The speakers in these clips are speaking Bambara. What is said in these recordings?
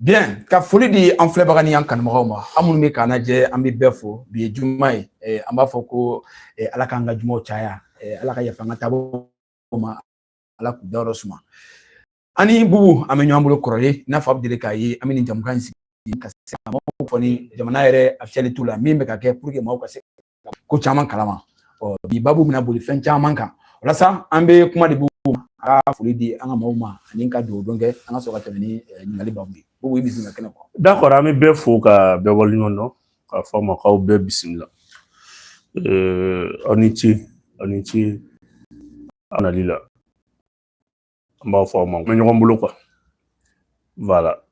Bien, ka foli di an filɛbaga ni an kanubagaw ma aw minnu bɛ k'an lajɛ an bɛ bɛɛ fo bi ye juma ye eh, an b'a fɔ ko eh, ala k'an ka jumaw caya eh, ala ka yafa an ka taabaaw ma ala k'u dayɔrɔ suma an ni bubu an bɛ ɲɔgɔn bolo kɔrɔlen i n'a fɔ aw bɛ deli k'a ye an bɛ nin jɛmukan in sigi ka se ka maaw kunnafoni jamana yɛrɛ actualitéw la min bɛ ka kɛ pour que maaw ka se ko caman kalama ɔ bi babu bɛna boli fɛn caman kan walasa an bɛ kuma di bubu ma a ka foli di an ka maaw ma ani ka dugawu don kɛ an ka sɔrɔ ka tɛmɛ ni ɲininkali babu ye bubu i bisimila kɛnɛ kɔnɔ. d'accord an bɛ bɛɛ fo ka bɛɛ waleɲuman dɔn k'a fɔ aw ma k'aw bɛɛ bisimila aw ni ce aw ni ce aw nali la. an b'a fɔ aw ma an bɛ ɲɔgɔn bolo quoi voilà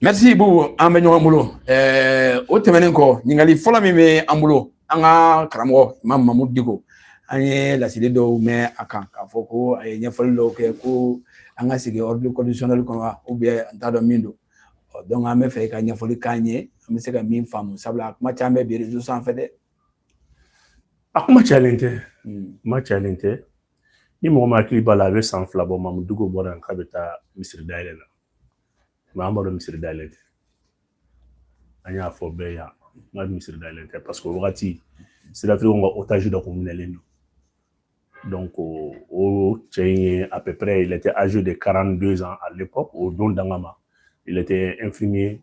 merci beaucoup an bɛ ɲɔgɔn bolo ɛɛ o tɛmɛnen kɔ ɲininkali fɔlɔ min bɛ an bolo an ka karamɔgɔ imam mamudu diko an ye laseli dɔw mɛn a kan k'a fɔ ko a ye ɲɛfɔli dɔw kɛ ko an ka segin ordre constitutionnel kɔnɔ wa ou bien an t'a dɔn min don donc an b'a fɛ i ka ɲɛfɔli k'an ye an bɛ se ka min faamu sabula a kuma caman bɛ bi réseau sanfɛ dɛ a kuma cayalen tɛ kuma cayalen tɛ ni mɔgɔ min hakili b'a la a bɛ san fila bɔ mamudu diko bɔra yan k'a bɛ taa misiri dayɛlɛ la mais an b'a dɔn misiri dayɛlɛ tɛ an y'a fɔ bɛɛ yan n ka misiri dayɛlɛ tɛ parce que o wagati Sud-Afrique ka otage dɔ tun minɛlen don donc o cɛ in ye à peu près il était âgé de 42 ans à l'époque o don danga ma il était infirmier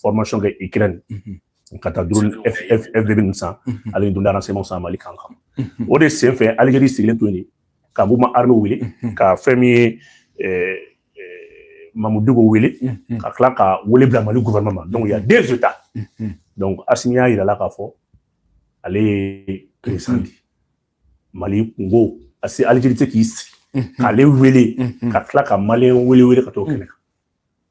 formation kɛ ikirɛni ka taa drone FPV ninnu san ale ni drone de renseignementw san mali kan kan o de senfɛ Algérie sigilen to yen ka mouvement armé wele ka fɛn min ye mamudu diko wele ka tila ka wele bila mali gouvernement ma donc il y a deux états donc asimi y'a yira a la k'a fɔ ale ye président di mali kun ko a se Algérie tɛ k'i sigi k'ale wele ka tila ka maliyɛn wɛrɛ wele ka t'o kɛnɛ kan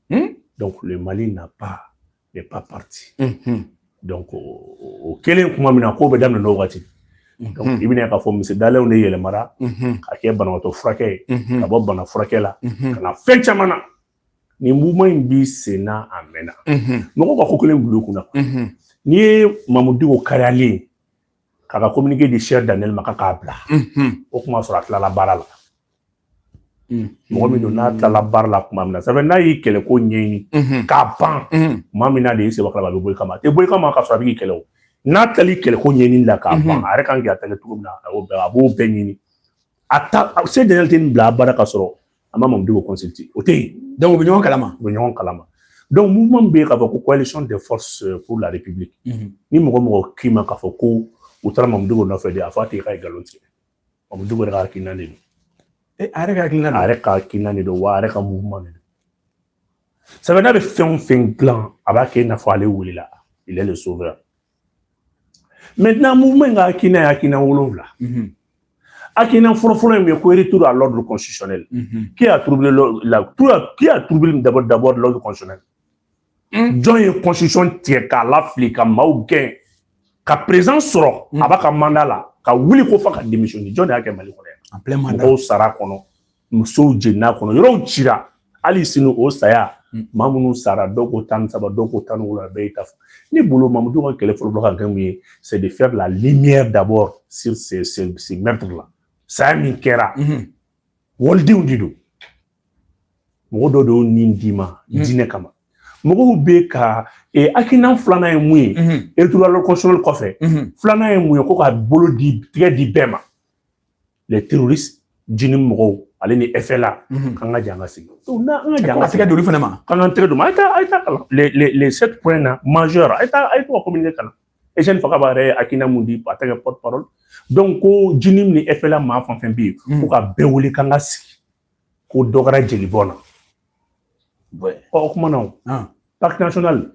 Hmm? Donc le Mali n'a pas n'est pas parti. Mm -hmm. Donc o kɛlen tuma min na ko bɛɛ daminɛna o waati. Hmm. Donc i bɛna k'a fɔ misiri dayɛlɛ de yɛlɛmara hmm. ka kɛ banabaatɔ furakɛ ye ka bɔ bana furakɛ la ka na fɛn caman na nin mouvement in bɛ sen na a mɛnna mɔgɔw ka ko kelen bila u kun na n'i ye Mamudu Diko kariyalen ye k'a ka communiqué di Serge Daniel ma k'a k'a bila o kuma sɔrɔ a tilala baara la. mɔgɔ min don n'a tilala baara la tuma min na sɛbɛn n'a y'i kɛlɛ ko ɲɛɲini k'a ban maa min n'a de ye sɛbɛn kala a bɛ bɔ i kama a tɛ bɔ i kama ka sɔrɔ a b'i kɛlɛ o n'a tilala i kɛlɛ ko ɲɛɲini la k'a ban a yɛrɛ ka kan k'i attaquer cogo min na a b'o bɛɛ a b'o bɛɛ ɲini a ta Serge Daniel tɛ nin bila abada ka sɔrɔ a ma mamudu diko consulter o tɛ yen donc u bɛ ɲɔgɔn kalama u bɛ ɲɔgɔn kalama donc minnu bɛ yen k'a fɔ ko coalition des forces pour la république ni mɔgɔ o mɔgɔ k'i ma k'a fɔ ko u taara mamudu diko nɔfɛ de a fɔ a ye k'a ye nkalon tigɛ Mamudu Diko yɛrɛ ka hakilina de don e a yɛrɛ ka hakilina a yɛrɛ ka hakilina de don wa a yɛrɛ ka mouvement de don sabu n'a bɛ fɛn o fɛn dilan a b'a kɛ i n'a fɔ ale welela il est le sauveur maintenant mouvement in ka hakilina ye hakilina wolonwula hakilina fɔlɔfɔlɔ ye mun ye ko retour à l'ordre constitutionnel qui a troublé la qui a troublé d'abord d'abord l'ordre constitutionnel Hmm? jɔn ye constitution tigɛ k'a lafili ka maaw gɛn ka président sɔrɔ hmm. a b'a ka mandat la ka wuli ko f'a ka démissionner jɔn de y'a kɛ mali kɔnɔ yan mɔgɔw sara kɔnɔ musow jenina kɔnɔ yɔrɔw cira hali sini o saya hmm. maa minnu sara dɔw ko tan ni saba dɔw ko tan ni wolonwula bɛɛ y'i ta fɔ ne bolo mamudu ka kɛlɛ fɔlɔ ka kɛ mun ye c'est de faire la lumière d'abord sur ces ces ces meurtres là saya min kɛra walidenw de don mɔgɔ dɔw de y'u ni d'i ma mm. diinɛ kama mɔgɔw bɛ ka e, hakilina filanan ye mun ye retour à l'ordre constitutionnel kɔfɛ filanan ye mun ye ko ka bolo tɛgɛ di bɛɛ ma les terroristes JNIM mɔgɔw ale ni FLA k'an ka jɛn ka sigi n'an ka jɛn ka tɛgɛ d'olu fana ma k'an ka tɛgɛ d'olu ma a ye taa a ye t'a kalan les sept points na majeur a ye taa a ye t'u ka communiqué kalan Etienne Fakaba yɛrɛ ye hakilina mun di a tɛ kɛ porte parole donc ko JNIM ni FLA maa fɛn fɛn bɛ yen ko ka bɛɛ wele k'an ka sigi ko dɔ kɛra jeli bɔn na ɔ o kuma na o pacte national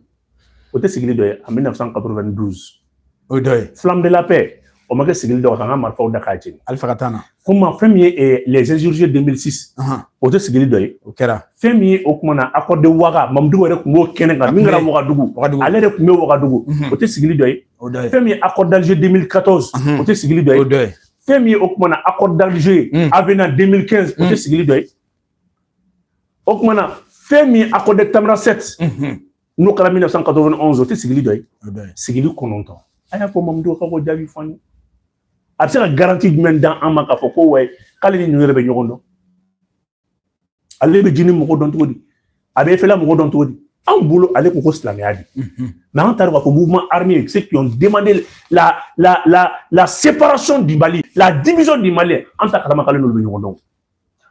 o tɛ sigili dɔ ye en 1992 o ye dɔ ye flamme de la paix o ma kɛ sigili dɔ k'an ka marifaw da k'a jeni alifa ka temps na kuma fɛn min ye les insurgés 2006 o tɛ sigili dɔ ye o kɛra fɛn min ye o kuma na accord de waga mamudu diko yɛrɛ tun b'o kɛnɛ kan min kɛra wagadugu ale de tun bɛ wagadugu o tɛ sigili dɔ ye fɛn min ye accord d'alger 2014 o tɛ sigili dɔ ye fɛn min ye o kuma na accord d'Alger ye mm. avenant 2015 o tɛ mm. sigili dɔ ye o kuma na fɛn min ye accord de Tamanrasset mm-hmm. n'o kɛra 1991 o tɛ sigili dɔ ye sigili kɔnɔntɔn a y'a fɔ Mamudu k'o jaabi fɔ an ye a bɛ se ka garantie jumɛn d'an ma k'a fɔ ko ouais k'ale ni ninnu yɛrɛ bɛ ɲɔgɔn dɔn ale bɛ JNIM mɔgɔ dɔn cogo di a bɛ FLA mɔgɔ dɔn cogo di anw bolo ale ko ko silamɛya de mais an taara k'a fɔ mouvement armé ceux qui ont demandé la la la la séparation du Mali la division du Mali an t'a kalama k'ale n'olu bɛ ɲɔgɔn dɔn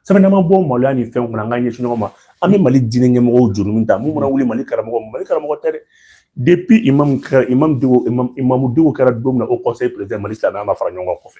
sabu n'an ma bɔ maloya ni fɛnw kɔnɔ an k'an ɲɛsin ɲɔgɔn ma an bɛ Mali diinɛ ɲɛmɔgɔw juru min ta mun mana wuli Mali karamɔgɔ Mali karamɔgɔ tɛ dɛ depuis imam kɛra imam Diko imam imamu Diko kɛra don min na Haut Conseil président Mali silamɛya ma fara ɲɔgɔn kan kɔfɛ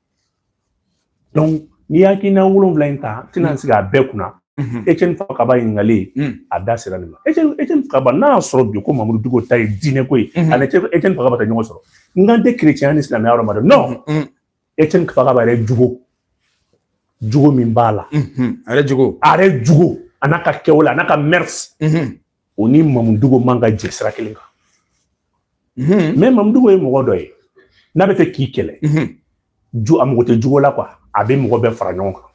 n'i ye hakilina wolonwula in ta tɛna sigi a bɛɛ kunna Etienne Fakaba ɲininkalen a da sera nin ma Etienne Fakaba n'a y'a sɔrɔ bi ko mamudu diko ta ye diinɛ ko ye ani Etienne Fakaba tɛ ɲɔgɔn sɔrɔ n kan tɛ kerecɛnya ni silamɛya yɔrɔ ma dɛ non Etienne Fakaba yɛrɛ jogo jogo min b'a la a yɛrɛ jogo a yɛrɛ jogo a n'a ka kɛwale a n'a ka mɛrisi o ni mamudu diko man ka jɛ sira kelen kan mais mamudu diko ye mɔgɔ dɔ ye n'a bɛ fɛ k'i kɛlɛ a mago tɛ jogo la quoi a bɛ mɔgɔ bɛɛ fara ɲɔgɔn kan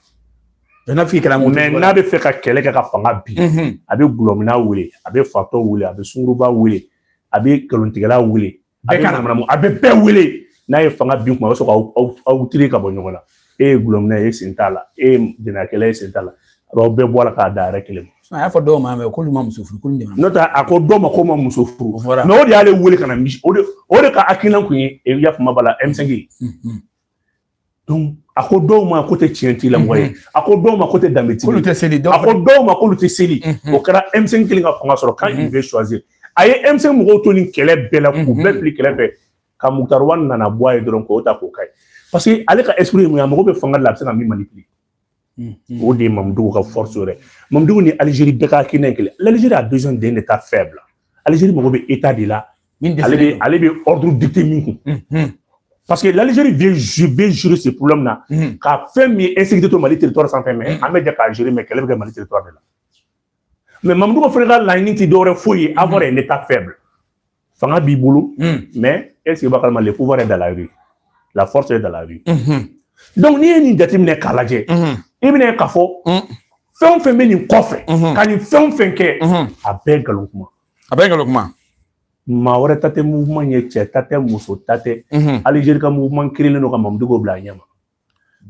mais n'a bɛ fɛ ka kɛlɛ kɛ ka fanga bin a bɛ gulɔmina wele a bɛ fatɔ wele a bɛ sunguruba wele a bɛ nkalontigɛla wele bɛɛ ka na a bɛ bɛɛ wele n'a ye fanga bin kuma a bɛ sɔrɔ k'aw tiri ka bɔ ɲɔgɔn na e ye gulɔmina ye e sen t'a la e ye jɛnɛyakɛla ye e sen t'a la aw bɛɛ bɔ a la k'a da yɛrɛ kelen ma a y'a fɔ dɔw ma mais k'olu ma muso furu k'olu de ma n'o tɛ a ko dɔw ma k'u ma muso furu mais o de y'ale wele ka na misi o de o de ka hakilina kun ye i y'a faamu b'a la M5 a ko dɔw ma k'u tɛ tiɲɛ tigilamɔgɔ ye a ko dɔw ma k'u tɛ danbe tigila a ko dɔw ma k'olu tɛ seli o kɛra M5 kelen ka fanga sɔrɔ quand il veut choisir a ye M5 mɔgɔw to nin kɛlɛ bɛɛ la k'u bɛɛ fili kɛrɛfɛ ka Moctar Ouane nana bɔ a ye dɔrɔn k'o ta k'o k'a ye parce que ale ka esprit ye mun ye a mago bɛ fanga de la a bɛ se ka min manipule o de ye mamudu diko ka force yɛrɛ mamudu diko ni alizeri bɛɛ ka hakilina ye kelen l'Algérie a besoin d'un état faible alizeri mago bɛ état de la ale bɛ ordre dicter min kun parce que l'Algérie vient, vient gérer ce problème là mm. ka fɛn min ye insécurité to Mali territoire sanfɛ mais an bɛ jɛ k'a gérer mais kɛlɛ bɛ kɛ Mali territoire de la mais Mamadou Diko fana ka laɲini tɛ dɔwɛrɛ foyi ye avoir un état faible fanga b'i bolo mais est ce que i b'a kalama le pouvoir est dans la rue la force est dans la rue donc n'i ye nin jateminɛ k'a lajɛ i bɛn'a ye k'a fɔ fɛn o fɛn bɛ nin kɔfɛ ka nin fɛn o fɛn kɛ a bɛɛ nkalon kuma a bɛɛ nkalon kuma maa wɛrɛ ta tɛ mouvement ye cɛ ta tɛ muso ta tɛ alizeri ka mouvement créélen don ka mamudu diko bila a ɲɛ ma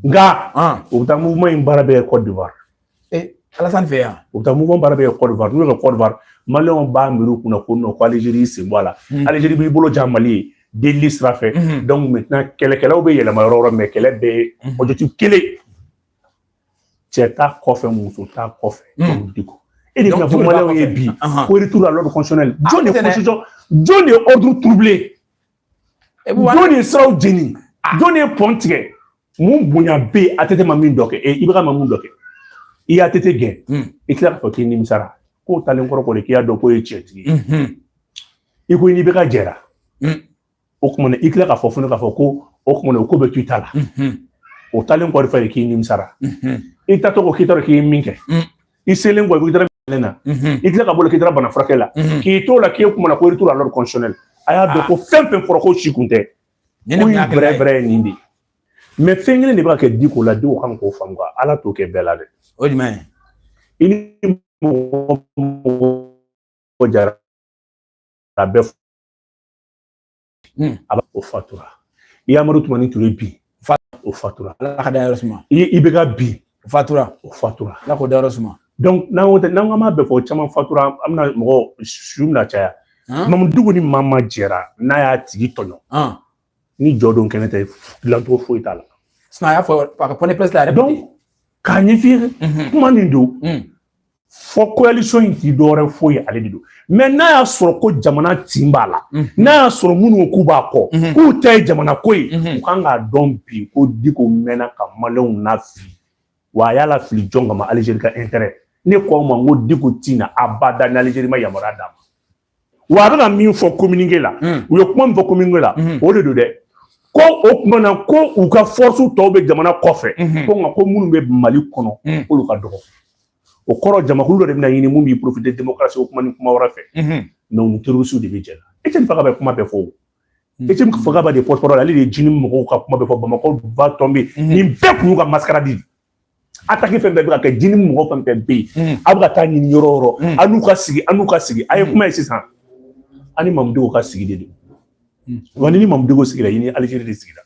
nka u bɛ taa mugu in baara bɛ kɔ diwa ala fɛ yan u bɛ taa mugu baara bɛ kɛ kɔwa n'u bɛ kɔwa maliw b'a mi kunna ko nɔ ko aliziri sen bɔ la alizri b'i bolo jan mali ye delili sira fɛ kɛlɛkɛlaw bɛ yɛlɛma yɔrɔ yɔrɔ mɛ kɛlɛ bɛ ojju kelen cɛ ta kɔfɛ muso t ta kɔfɛ di kɔ e de fɔ ma ye bi ko tu la jɔn de jɔn de ye odu turubilen jɔn ye siraw jeni ah. jɔn ye pɔn tigɛ mun bonya bɛ yen ATT ma min dɔ kɛ eh, IBK ma mun dɔ kɛ i ye ATT gɛn hmm. i tila k'a fɔ k'i nimisara k'o taalen kɔrɔ kɔni k'i y'a dɔn k'o ye tiɲɛtigi ye hmm. i ko n'IBK jɛra hmm. o tuma na i tila k'a fɔ fana k'a fɔ ko o tuma na o ko bɛ to i ta la o taalen kɔrɔ fɛ k'i nimisara i ta tɔgɔ k'i t'a dɔn k'i ye min kɛ i selen kɔ i taara minɛ na i tila ka boli k'i taara bana furakɛ la k'i t'o la k'e kumana ko retour à l'ordre constitutionnel a y'a dɔn ko fɛn o fɛn fɔra k'o si kun tɛ ko in bɛrɛ bɛrɛ ye nin de mais fɛn kelen de bɛ ka kɛ diko la diko kan k'o faamu quoi ala t'o kɛ bɛɛ la dɛ o jumɛn i ni mɔgɔ o mɔgɔ jɛra a bɛɛ Hmm. a b'a o fatura i amadu tumani ture bi o fatura ala k'a dayɔrɔ suma ibɛka bi o fatura ala k'o dayɔrɔ suma donc n'an ko tɛ n'an ko an b'a bɛɛ fɔ caman fatura an bɛna mɔgɔ su bɛna caya mamudu diko ni maa ma jɛra n'a y'a tigi tɔɲɔ ni jɔ don kɛnɛ tɛ dilancogo foyi t'a la sinon a y'a fɔ a ka point de presse la yɛrɛ donc k'a ɲɛf'i ye kuma min don fo koyalisɔn in tɛ dɔwɛrɛ foyi ye ale de don mɛ n'a y'a sɔrɔ ko jamana tin b'a la n'a y'a sɔrɔ minnu k'u b'a kɔ k'u ta ye jamana ko ye u kan k'a dɔn bi ko diko mɛnna ka maliyɛnw nafili wa a y'a lafili jɔn kama alizeri ka intɛrɛ ne ko aw ma n ko diko tɛ na abada ni alizeri ma yamaruya d'a ma wa a bɛna min fɔ kominike la hmm. u ye kuma min fɔ kominike la hmm. o de don dɛ ko o kuma na ko u ka fɔrɔsi tɔw bɛ jamana kɔfɛ hmm. ko nka ko minnu bɛ mali kɔnɔ k'olu ka dɔgɔ o kɔrɔ jamakulu dɔ de bɛna ɲini min b'i porofite demokarasi o kuma ni kuma wɛrɛ fɛ mɛ u ni terorisiw de bɛ jɛ la eceni fakaba bɛ kuma bɛɛ fɔ o eceni fakaba de porte-parole ale de ye jinimu mɔgɔw ka kuma bɛɛ fɔ bamakɔ va tomber nin bɛɛ kun y'u ka masikaradi ataki fɛn bɛɛ bɛ ka kɛ jinimu mɔgɔ fɛn fɛn bɛ yen a bɛ ka taa ɲini yɔrɔ yɔrɔ an n'u ka sigi an n'u ka sigi a ye kuma ye sisan an ni mamudu ka sigi de don wa ni mamudu sigira i ni alizeri de sigira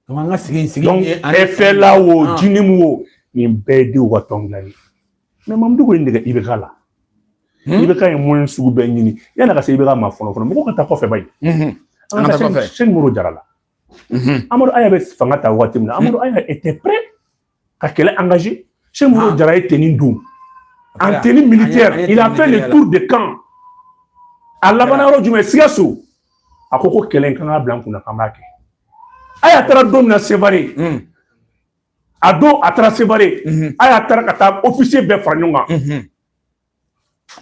an ka sigi sigi ɛfɛla wo jinimu wo nin bɛɛ ye denw ka tɔn dilan ye mɛ mamudu ye nɛgɛ ibɛka la ibɛka ye moyen sugu bɛɛ ɲini yanni ka se ibɛka ma fɔlɔ fɔlɔ mɔgɔ ka taa kɔfɛ ba ye an ka taa kɔfɛ sɛki modibo jara la Mhm. Amadu Aya bɛ fanga ta waati min na, Amadu mhm. Aya était prêt ka kɛlɛ engager. Sɛki Modibo ah. Jara ye tenue don. En tenue militaire, il a fait le tour de camp. A labanna yɔrɔ jumɛn? Sikaso. A ko ko kɛlɛ in kan ka bila an kunna k'an b'a kɛ. Aya taara don min na Sevare. Mhm. A don a taara Sevare. Aya taara ka taa officier bɛɛ fara ɲɔgɔn kan.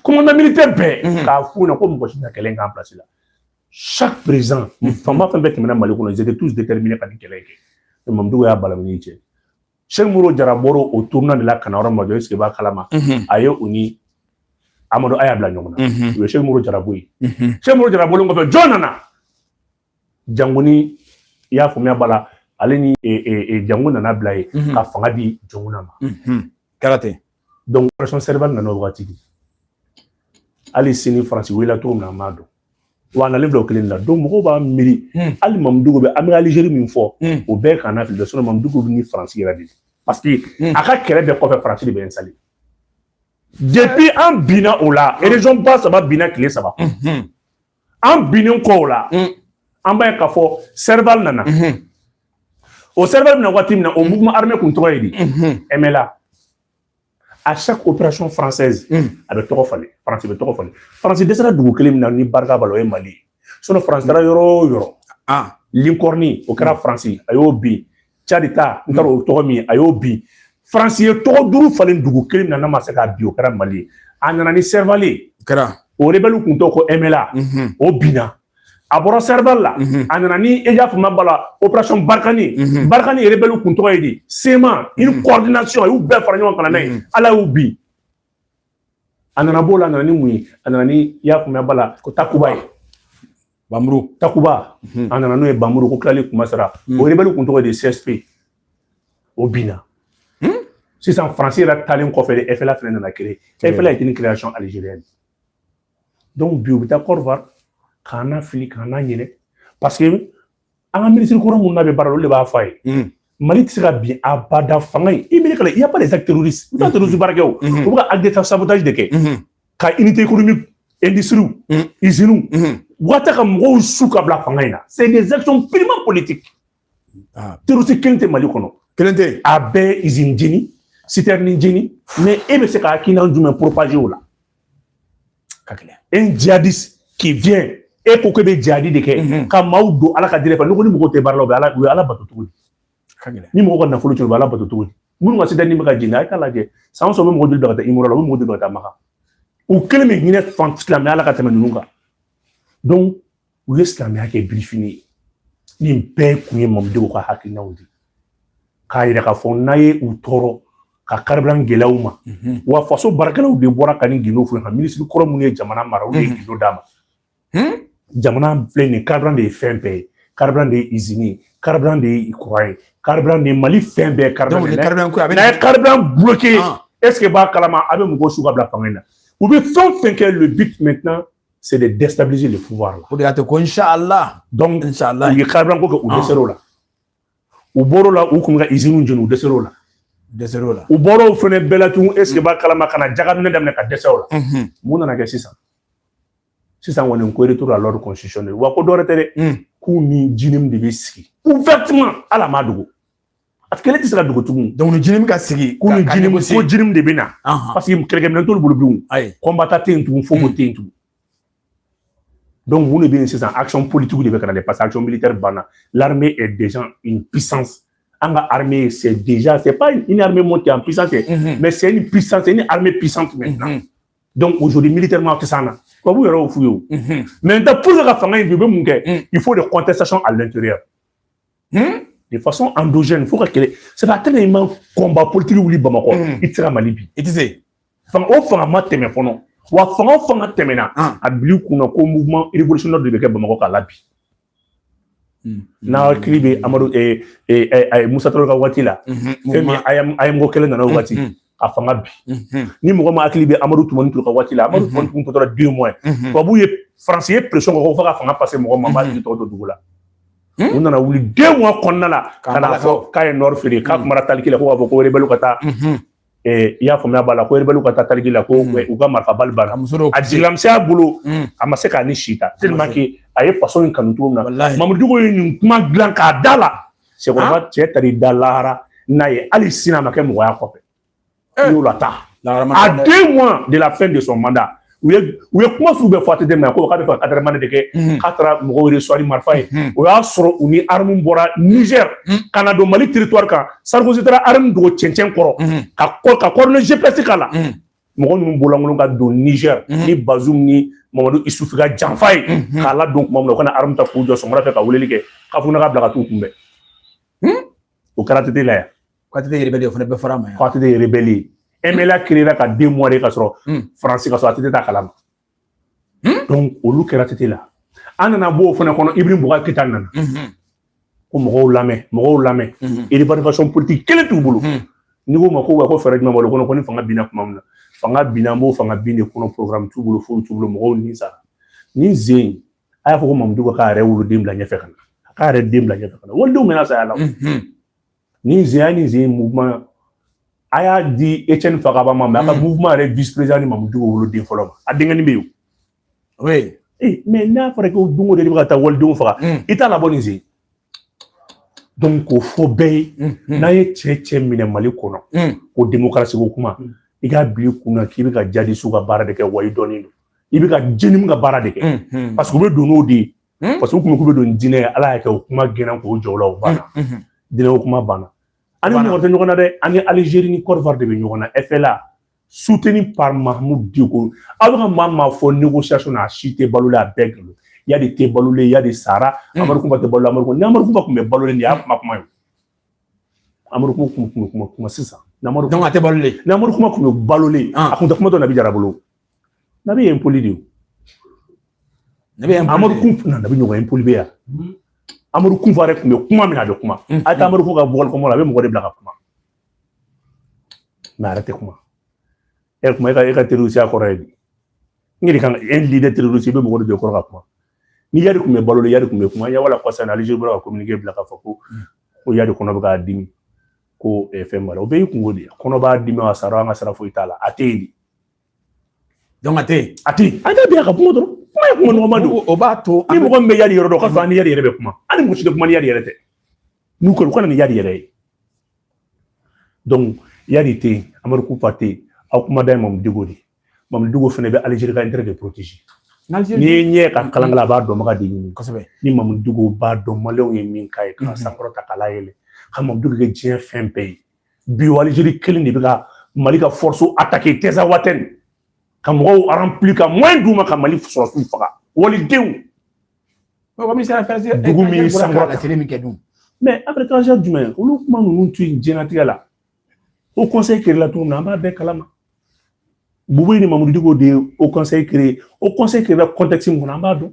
commandant militaire bɛɛ mhm. k'a f'u ɲɛna ko mɔgɔ si tɛ kɛlɛ in k'an place la chaque président mhm. faama fɛn bɛɛ tɛmɛna mali kɔnɔ ils étaient tous déterminés ka nin kɛlɛ in kɛ mais mamudu diko y'a balamini cɛ sɛki modibo jara bɔra o tournée de la ka na yɔrɔ min ma jɔ est-ce que b'a kalama mhm. a ye u ni amadu aya bila ɲɔgɔn na u ye sɛki modibo jara bɔ yen sɛki modibo jara bɔlen kɔfɛ jɔn nana jangoni i y'a faamuya b'a la ale ni e, e, e, jango nana bila yen ka fanga di jɔnkunda ma kɛra ten donc operation serval nana o wagati de hali sini faransi wulila cogo min na an b'a dɔn wa a nalen bila o kelen la donc mɔgɔw b'a miiri hali mamudu diko bɛ an bɛ alizeri min fɔ o bɛɛ kana fili dɛ mamudu diko bɛ ni faransi yɛrɛ de parce que a ka kɛlɛ bɛɛ kɔfɛ faransi de bɛ installé depuis an binna o la région ba saba binna tile saba an binnen kɔ o la mm. an b'a ye k'a fɔ sɛrival nana mm-hmm. o sɛrival bɛ na waati min na o mouvement armé kun tɔgɔ ye di mm-hmm. mla à chaque opération française mm. a bɛ tɔgɔ falen faransi bɛ tɔgɔ falen faransi dɛsɛra dugu kelen min na ni barika b'a la o ye mali ye sinɔn faransi taara yɔrɔ o yɔrɔ ah. linkɔrɔni o kɛra faransi a y'o bin cadi ta n taara o tɔgɔ min a y'o bin faransi ye tɔgɔ duuru falen dugu kelen min na a ma se k'a bin o kɛra mali ye a nana ni sɛrivali ye kɛra o rebɛliw kun tɔgɔ ko emela o binna a bɔra sɛrivali la a nana ni e y'a faamuya bala operation barikani barikani ye rebɛliw kun tɔgɔ ye di sema une coordination a y'u bɛɛ fara ɲɔgɔn kan ka na n'a ye ala y'u bin a nana b'o la a nana ni mun ye a nana ni i y'a faamuya bala ko takuba ye Bamuru takuba mhm. a nana n'o ye bamuru ko tilali kuma sera mhm. o rebelle kun tɔgɔ ye di csp o binna hmm? sisan faransi yɛrɛ taalen kɔfɛ de efela fɛnɛ nana créer efela est une création algérienne donc bi u bɛ taa corvar k'an nafili k'an naɲinɛ parce que an ka minisiri kɔrɔ minnu n'a bɛ baara la olu de b'a fɔ a ye mali tɛ se ka bin abada fanga ye i miiri kala il y a pas des actes terroristes u tɛ terroristes baara kɛ o u bɛ ka acte de sabotage de kɛ ka unité économique industries usines wata ka mɔgɔw su ka bila fanga in na c'est des actions purement politiques terroristes kelen tɛ mali kɔnɔ kelen tɛ a bɛɛ usine jeni citerne jeni mais e bɛ se ka hakilina jumɛn propager o la ka gɛlɛn e un jihadiste qui vient e ko k'e bɛ jihadi de kɛ mhm. ka maaw don ala ka diinɛ fɛ n'i ni mɔgɔ tɛ baara la u bɛ ala u ye ala bato cogo di ni mɔgɔ ka nafolo cɛ u bɛ ala bato cogo di minnu ka citerne bɛ ka jeni a ye k'a lajɛ san o san u bɛ mɔgɔ joli bila ka taa umura la u bɛ mɔgɔ joli bila ka taa makan u kelen bɛ hinɛ fan silamɛya la ka tɛmɛ ninnu kan donc u ye silamɛya kɛ birifini ye nin bɛɛ kun ye malidenw ka hakilinaw de ye k'a yira k'a fɔ n'a ye u tɔɔrɔ ka karibilan gɛlɛya u ma mhm. wa faso baarakɛlaw de bɔra ka nin gindo fɔ ka minisiri kɔrɔ minnu ye jamana mara olu ye mhm. gindo d'a ma hmm? jamana filɛ nin karibilan de ye fɛn bɛɛ ye karibilan de ye izini ye karibilan de ye kuran ye karibilan de ye mali fɛn bɛɛ karibilan de ye n'a ye karibilan bloquer est ce que b'a kalama a bɛ mɔgɔw su ka bila fanga in na u bɛ fɛn o fɛn kɛ le but maintenant c'est de déstabiliser le pouvoir là. O de y'a to ko inshallah donc inshallah u ye karibilan ko kɛ u dɛsɛra o la u bɔr'o la u kun bɛ ka iziniw jeni u dɛsɛra o la dɛsɛra o la u bɔra o fɛnɛ bɛɛ la tun est ce que b'a kalama ka na jakaminɛ daminɛ ka dɛsɛ o la mun nana kɛ sisan sisan kɔni u ko retour à l'ordre constitutionnel wa ko dɔwɛrɛ tɛ dɛ k'u ni jinimu de bɛ sigi ouvertement ala m'a dogo A kɛlɛ tɛ se ka dogo tugun donc ni JNIM ka sigi ko ni JNIM ko JNIM de bɛ na parce que kɛlɛkɛminɛn t'olu bolo bilen ayi combattant tɛ yen tugun fo ko tɛ yen tugun donc mun de bɛ yen sisan action politique de bɛ ka na dɛ parce que action militaire banna l'armée est déjà une puissance an ka armée c'est déjà c'est pas une armée montée en puissance mais c'est une puissance c'est une armée puissante maintenant donc aujourd'hui militairement tɛ s'an na tubabu yɛrɛ y'o f'u ye o mais maintenant pour que ka fanga in bin u bɛ mun kɛ il faut des contestations à l'intérieur de façon endogène fo ka kɛlɛ c'est pas tellement il man combat politique wuli Bamakɔ hmm. i tɛ se ka Mali bin i tɛ se fanga o fanga ma tɛmɛ fɔlɔ wa fanga o fanga tɛmɛna ah. a bil'i kunna ko mouvement révolutionnaire de bɛ kɛ Bamakɔ k'a labin hmm. n'aw hakili bɛ Amadu Musa Tarawele ka waati la fɛn min AEEM ko kelen nana o waati a fanga bin ni mɔgɔ ma hakili bɛ amadu tumani ture ka waati la amadu tumani tun tɔ tora deux mois tubabu ye faransi ye pression kɛ fo ka fanga passer mɔgɔ ma b'a jigi tɔgɔ don dugu la u nana wuli deux mois kɔnɔna la ka na fɔ k'a ye nord feere k'a kumara taliki la ko k'a fɔ ko rebɛliw ka taa i y'a faamuya b'a la ko rebɛliw ka taa taliki la ko u ka marifa balle banna a jigilamisɛnya bolo a ma se k'a ni si ta tellement que a ye faso in kanu cogo min na mamudu diko ye nin kuma dilan k'a d'a la cɛkɔrɔba cɛ taara i da lahara n'a ye hali sini a ma kɛ mɔgɔ ye a kɔfɛ u y'o lata à deux mois de la fin de son mandat u ye u ye kuma sugu bɛɛ fɔ ATT ma ko k'a bɛ fɛ ka adamaden de kɛ k'a taara mɔgɔw de sɔri marifa ye o y'a sɔrɔ u ni aramu bɔra nizɛr ka na don mali teritwari kan sarikosi taara aramu dogo cɛncɛn kɔrɔ ka kɔ ka coordonnées gps k'a la mɔgɔ ninnu bɔlankolon ka don Niger mhm. ni Bazoum ni Mamadu Issoufou ka janfa ye mhm. k'a ladon tuma min na u ka na arme ta k'u jɔ sɔgɔmada fɛ ka weleli kɛ Kafougouna ka bila ka t'u kunbɛn hmm? o kɛra ATT la yan k'ATT rebelle o fana bɛɛ fɔra a ma yan k'ATT rebelle MNLA créera ka deux mois de ka sɔrɔ hmm. France ka sɔrɔ ATT t'a kalama donc olu kɛra ATT la an nana bɔ o fana kɔnɔ Ibrahim Boubacar Keïta nana ko mɔgɔw lamɛn mɔgɔw lamɛn évaluation politique kelen t'u bolo n'i ko u ma ko wa ko fɛɛrɛ jumɛn b'o kɔnɔ ko ni fanga binna tuma min na fanga binna an b'o fanga bin de kɔnɔ programme t'u bolo foyi t'u bolo mɔgɔw ni sara nin sen a y'a fɔ ko mamudu ka k'a yɛrɛ woloden bila ɲɛfɛ ka na a k'a yɛrɛ den bila ɲɛfɛ ka na walidenw mɛnna saya la Nin sen ya nin sen mouvement a y'a di Etienne Fakaba ma mais a ka mouvement yɛrɛ vice président ni Mamudu woloden fɔlɔ ma a denkɛnin bɛ yen o. Oui. Eh, mais n'a fɔra ko don o don i bɛ ka taa walidenw faga i t'a labɔ nin sen donc k'o fɔ bɛɛ ye n'a ye cɛ cɛ minɛ mali kɔnɔ ko demokarasi ko kuma i k'a bila i kun na k'i bɛ ka djihadistes ka baara de kɛ wa i dɔnnen don i bɛ ka JNIM ka baara de kɛ parce que u bɛ don n'o de ye parce que u kun bɛ don diinɛ ye ala y'a kɛ u kuma gɛnna k'o jɔ o la o banna diinɛ kuma banna an ni mɔgɔ tɛ ɲɔgɔn na dɛ an ni alizeri ni kɔdiwari de bɛ ɲɔgɔn na ɛfɛla suteni pa mahamu diko aw bɛ ka maa maa fɔ negosiyasɔn na a si tɛ balo la a bɛɛ golo iyadi tɛ balolen iyadi sara amadu kufa tɛ balo amadu ni amadu kufa tun bɛ balolen de y'a kuma kuma ye amadu kufa kuma sisan a tɛ balolen amadu kufa tun bɛ balolen a tun tɛ kuma to nabi jara bolo Nabi ye impoli de ye nabi ye amadu kun na nabi ɲɔgɔn impoli bɛ yan hmm. amadu kufa de tun bɛ kuma mun na a tɛ kuma hmm. a ye amadu ko ka bɔgɔli kɔmɔ la a bɛ mɔgɔ de bila ka kuma mun na a yɛrɛ tɛ kuma e kuma e ka e ka terorisiya kɔrɔ ye bi n yɛrɛ kan e lidɛri terorisi i bɛ mɔgɔ de jɔ kɔrɔ ka kuma ni yari tun bɛ balo la yari tun bɛ kuma yan voilà kɔsa in na alizeri bɔra ka kominike bila k'a fɔ ko ko yari kɔnɔ bɛ k'a dimi ko fɛn b'a la o bɛɛ y'i kungo de ye kɔnɔ b'a dimi a sara n ko a sara foyi t'a la a tɛ yen de Donc a tɛ yen a tɛ yen a tɛ bi a ka kuma dɔrɔn kuma ye kuma nɔgɔman don o b'a to ni mɔgɔ min bɛ yali yɔrɔ dɔn k'a fɔ ni yali yɛrɛ bɛ kuma hali mɔgɔ si tɛ kuma ni yali yɛrɛ tɛ n'u kɔni u ka na ni yali yɛrɛ ye donc yali tɛ yen amadu kufa tɛ yen aw kumada ye mamu diko de mamu diko fana bɛ alizeri ka intérêt de protéger n'i ye ɲɛ ka kalan a b'a dɔnbaga de ɲini kosɛbɛ ni mamu diko b'a dɔn maliyɛnw ye min k'a ye k'a sankɔrɔta k'a layɛlɛ ka mamu diko kɛ diɲɛ fɛn bɛɛ ye bi o alizeri kelen de bɛ ka mali ka fɔrɔsi atake tinzawatɛni ka mɔgɔw aranpili ka mɔyɛn d'u ma ka mali sɔrɔsiw faga walidenw dugu min sankɔrɔta min kɛ dun mais après étranger jumɛn olu kuma ninnu to yen diɲɛnatigɛ la o kɔnsɛyi kereyela tuma na an b'a bɛɛ kalama bubeyi ni mamudu diko de ye o kɔnsɛyi kereye o kɔnsɛyi kereyela kɔntɛkisi min kɔnɔ an b'a dɔn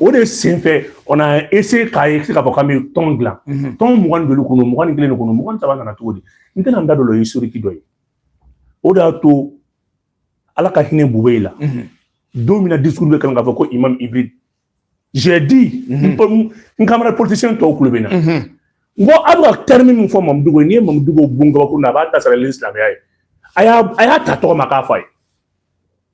o de senfɛ on a essayé k'a ye k'a fɔ k'an bɛ tɔn dilan tɔn mugan ni duuru kɔnɔ mugan ni kelen de kɔnɔ mugan ni saba nana cogo di n tɛna n da don o ye historique dɔ ye o de y'a to ala ka hinɛ bubeyi la don min na discours bɛ kalan k'a fɔ ko imam hybride j'ai dit n camarade politicien tɔw kulo bɛ n na n ko a bɛ ka terme min fɔ mamudu diko n'i ye mamudu diko bon kabakuru na a b'a ta sarali ni silamɛya ye a y'a ta tɔgɔ ma k'a fɔ a ye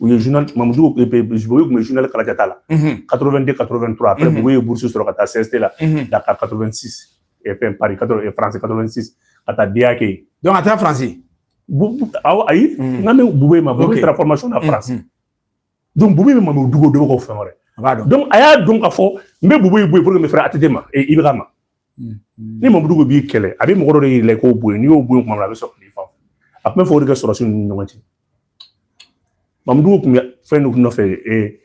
u ye journal mamudu diko ye kun bɛ journal kalajata la 82 83 après bubeyi ye bourse sɔrɔ ka taa CESTI la Dakar 86 fɛn Paris 80 France 86 ka taa DEA kɛ yen donc a taara France awɔ ayi n kan bɛ bubeyi ma bubeyi taara formation na France donc bubeyi bɛ mamudu diko dɔn ko fɛn wɛrɛ a b'a dɔn donc a y'a dɔn k'a fɔ n bɛ bubeyi bonya pour que n bɛ fɛrɛ ATT ma IBK ma ni mamudu diko b'i kɛlɛ a bɛ mɔgɔ dɔ de yɛlɛ k'o bonya n'i y'o bonya kuma min a bɛ sɔrɔ k'i fa a tun bɛ fɔ o de ka sɔrɔsi ninnu ni ɲɔgɔn cɛ mamudu diko tun bɛ fɛn dɔ nɔfɛ ee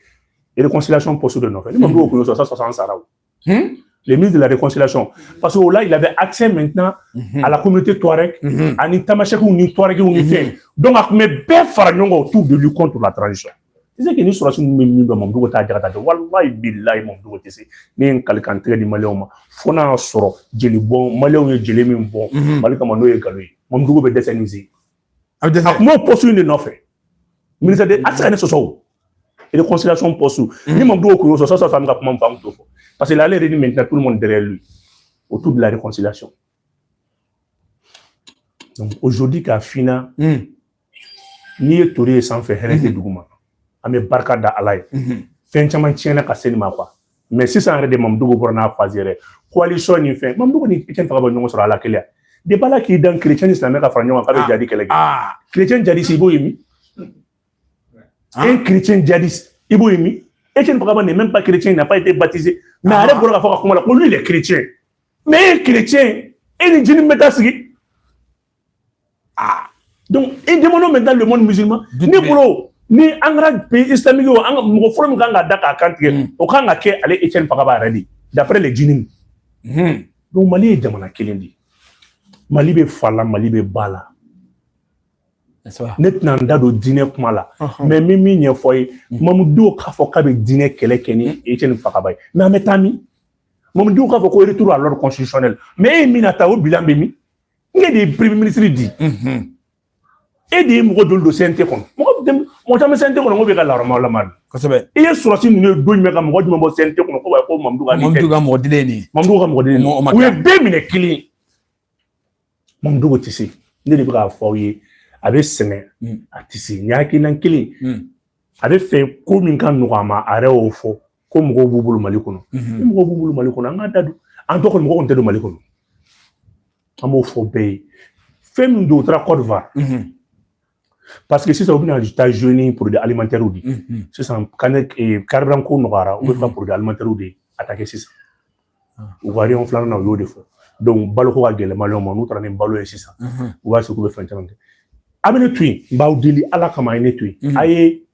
réconciliation poste dɔ nɔfɛ ni mamudu diko tun y'o sɔrɔ sisan an sara o les ministres de la réconciliation parce que o la il avait accès maintenant à la communauté touareg ani tamasɛkiw ni touaregiw ni fɛn donc a tun bɛ bɛɛ fara ɲɔgɔn kan autour de lui contre la transition c'est que ni sɔrɔdasi min bɛ min dɔn mamudu diko taa jaka ta walayi bilayi mamudu diko tɛ se ne ye n kali kan tigɛ di maliyɛnw ma fo n'a y'a sɔrɔ jeli bɔn maliyɛnw ye jeli min bɔn mali kama n'o ye nkalon ye mamudu diko bɛ dɛsɛ nin se a bɛ dɛsɛ a tun b'o poste in de nɔfɛ ministre de a tɛ se ka ne sɔsɔ o réconciliation poste ni mamudu diko y'o sɔrɔ sisan an bɛ ka kuma min fɔ an t'o fɔ parce que ale de ni maintenant tout le monde derrière lui autour de la réconciliation donc aujourd'hui k'a f'i ɲɛna n'i ye tori ye sanfɛ hɛrɛ tɛ dugu ma an bɛ barika da ala ye fɛn caman tiɲɛna ka se nin ma quoi mais sisan yɛrɛ de mamudu diko bɔra n'a face yɛrɛ coalition nin fɛ mamudu diko ni etienne fakaba ɲɔgɔn sɔrɔ ala kelen de b'a la k'i dan kirecɛn ni silamɛ ka fara ɲɔgɔn kan k'a bɛ jihadi kɛlɛ kɛ kirecɛn jihadisi i b'o ye min e kirecɛn jihadi i b'o ye min etienne fakaba n'est même pas chrétien n'a pas été baptisé mais a yɛrɛ bɔra ka fɔ ka kuma la que lui il est chrétien mais e ye kirecɛn e ni JNIM bɛ taa sigi ah donc il demande maintenant le monde musulman ne bolo ni an kɛra pays islamique o an ka mɔgɔ fɔlɔ min kan ka da k'a kan tigɛ hmm. o kan ka kɛ ale etienne fakaba yɛrɛ de d'après les JNIM hmm. donc mali ye jamana kelen de mali bɛ fa la mali bɛ ba la ne tɛna n da don diinɛ kuma la mais n bɛ min ɲɛfɔ ye hmm. mamudu diko k'a fɔ k'a bɛ diinɛ kɛlɛ kɛ ni etienne fakaba ye mais an bɛ taa min mamudu diko k'a fɔ ko retour à l'ordre constitutionnel mais e ye min na ta o bilan bɛ min e de ye premier ministre di e de ye mɔgɔ joli don CNT kɔnɔ mɔgɔ mɔgɔ caman bɛ CNT kɔnɔ ko bɛ ka laharama lama de kosɛbɛ i ye sɔrɔdasi ninnu ye don jumɛn ka mɔgɔ jumɛn bɔ CNT kɔnɔ ko ko Mamudu ka Mamudu ka mɔgɔ dilen nin Mamudu ka mɔgɔ dilen nin u ye bɛɛ minɛ kelen Mamudu Diko tɛ se ne de bɛ k'a fɔ aw ye a bɛ sɛgɛn a tɛ se nin hakilinan kelen a bɛ fɛ ko min ka nɔgɔ a ma a yɛrɛ y'o fɔ ko mɔgɔw b'u bolo mali kɔnɔ ni mɔgɔw b'u bolo mali kɔnɔ an ka da don en tout cas mɔgɔw tɛ don mali kɔnɔ an b'o fɔ bɛɛ ye fɛn min don u taara kɔdiwari parce que sisan u bɛna taa zoni porodi alimantɛriw de sisan carburant ko nɔgɔyara u bɛ taa porodi alimantɛriw de attaquer sisan u ka yɔrɔ filanan na u y'o de fɔ donc baloko ka gɛlɛn maliyɛnw ma n'u taara ni balo ye sisan u b'a se k'u bɛ fɛn caman kɛ a bɛ ne to yen n b'aw deli ala kama a ye ne to yen a ye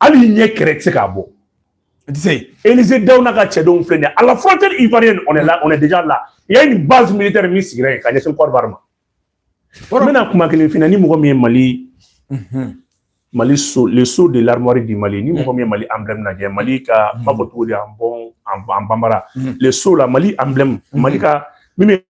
hali ɲɛ kɛrɛ tɛ se k'a bɔ i tɛ se Elize Dawu n'a ka cɛdenw filɛ nin ye à la frontière ivoirienne on est là on est déjà là il y a une base militaire min sigira yen ka ɲɛsin Côte d'Ivoire ma n bɛna kuma kelen f'i ɲɛna ni mɔgɔ min ye Mali Mali sceau le sceau de l'armoirie du Mali ni mɔgɔ min ye Mali emblème lajɛ Mali ka n b'a fɔ cogo di en bon en bambara le sceau là Mali emblème Mali ka min bɛ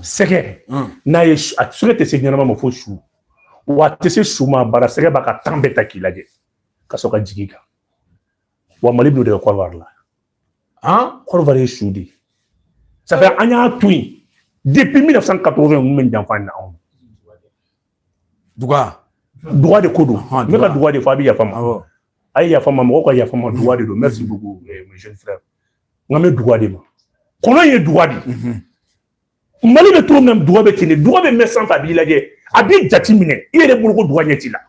sɛgɛ n'a ye a sɛgɛ tɛ se ɲɛnama ma fo su wa a tɛ se su ma bara sɛgɛ b'a ka temps bɛɛ ta k'i lajɛ ka sɔrɔ ka jigin i kan wa mali b'o de kɛ Côte d'Ivoire la han Côte d'Ivoire ye su de ye ça fait an y'a to yen depuis 1980 ninnu bɛ janfa na anw duga duga de ko don n bɛ ka duga de fɔ a bɛ yafa n ma a ye yafa n ma mɔgɔw ka yafa n ma duga de don merci beaucoup mon jeune frère n kan bɛ duga de ma kɔnɔ ye duga de ye mali bɛ cogo min na duga bɛ ten de duga bɛ mɛn sanfɛ a b'i lajɛ a b'i jate minɛ i yɛrɛ bolo ko duga ɲɛ t'i la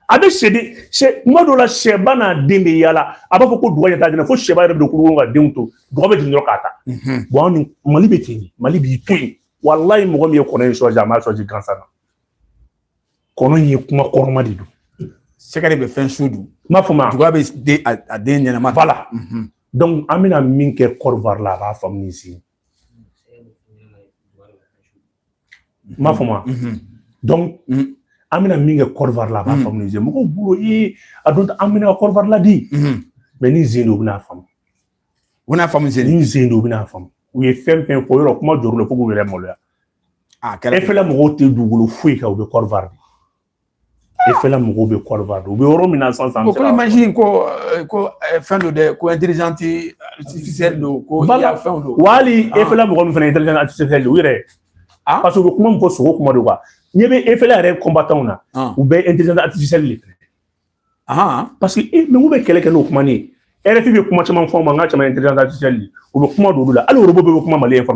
a bɛ sɛden sɛ kuma dɔ la sɛba n'a den bɛ yaala a b'a fɔ ko duga ɲɛ t'a den na fo sɛba yɛrɛ bɛ don kurukuru ka denw to duga bɛ jigin dɔrɔn k'a ta bon anw ni mali bɛ ten de mali b'i to yen walayi mɔgɔ min ye kɔnɔ in sɔrɔ a m'a sɔrɔ gansan na kɔnɔ in ye kuma kɔrɔma de don sɛgɛ de bɛ fɛn su dun n b'a fɔ ma duga bɛ den a den ɲɛnama voilà an bɛna min kɛ Côte d'Ivoire la a b'a faamu ni si ma fɔ ma donc an bɛna min kɛ Côte d'Ivoire la a b'a faamu ze mɔgɔw bolo ee a don an bɛna Côte d'Ivoire ladi mais ni zen don u bɛna faamu u bɛna faamu zen ni zen don u bɛna faamu u ye fɛn fɛn fɔ yɔrɔ kuma jɔr'u la fo k'u yɛrɛ maloya a kɛra FLA mɔgɔw tɛ dugukolo foyi kan u bɛ Côte d'Ivoire E fɛla mɔgɔw bɛ kɔrɔba don u bɛ yɔrɔ min na sisan ko in ko ko fɛn don dɛ ko tɛ don ko bala fɛn don wali e fɛla mɔgɔ min fana ye tɛ u yɛrɛ a parce que u bɛ kuma min fɔ sogo kuma don ɲɛ bɛ e fɛla yɛrɛ kɔnbatanw na u bɛɛ ye tɛ parce que e mɛ bɛ kɛlɛ kɛ n'o kuma ne RFI bɛ kuma caman fɔ ma n ka caman ye u bɛ kuma don olu la hali orobo bɛ kuma mali ye na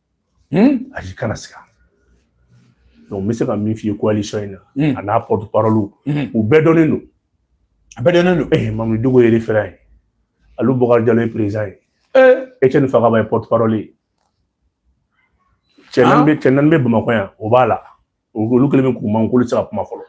ayi kana siga donc n bɛ se ka min f'i ye coalition in na hmm. a n'a porte parole hmm. u bɛɛ dɔnnen don a bɛɛ dɔnnen don ee eh, Mamudu Diko ye référent ye Alu Bɔkari Jalo ye président ye eh. Etienne Fakaba ye porte parole ye cɛ naani bɛ cɛ naani bɛ Bamakɔ yan o b'a la olu kɛlen bɛ k'u mankun olu tɛ se ka kuma fɔlɔ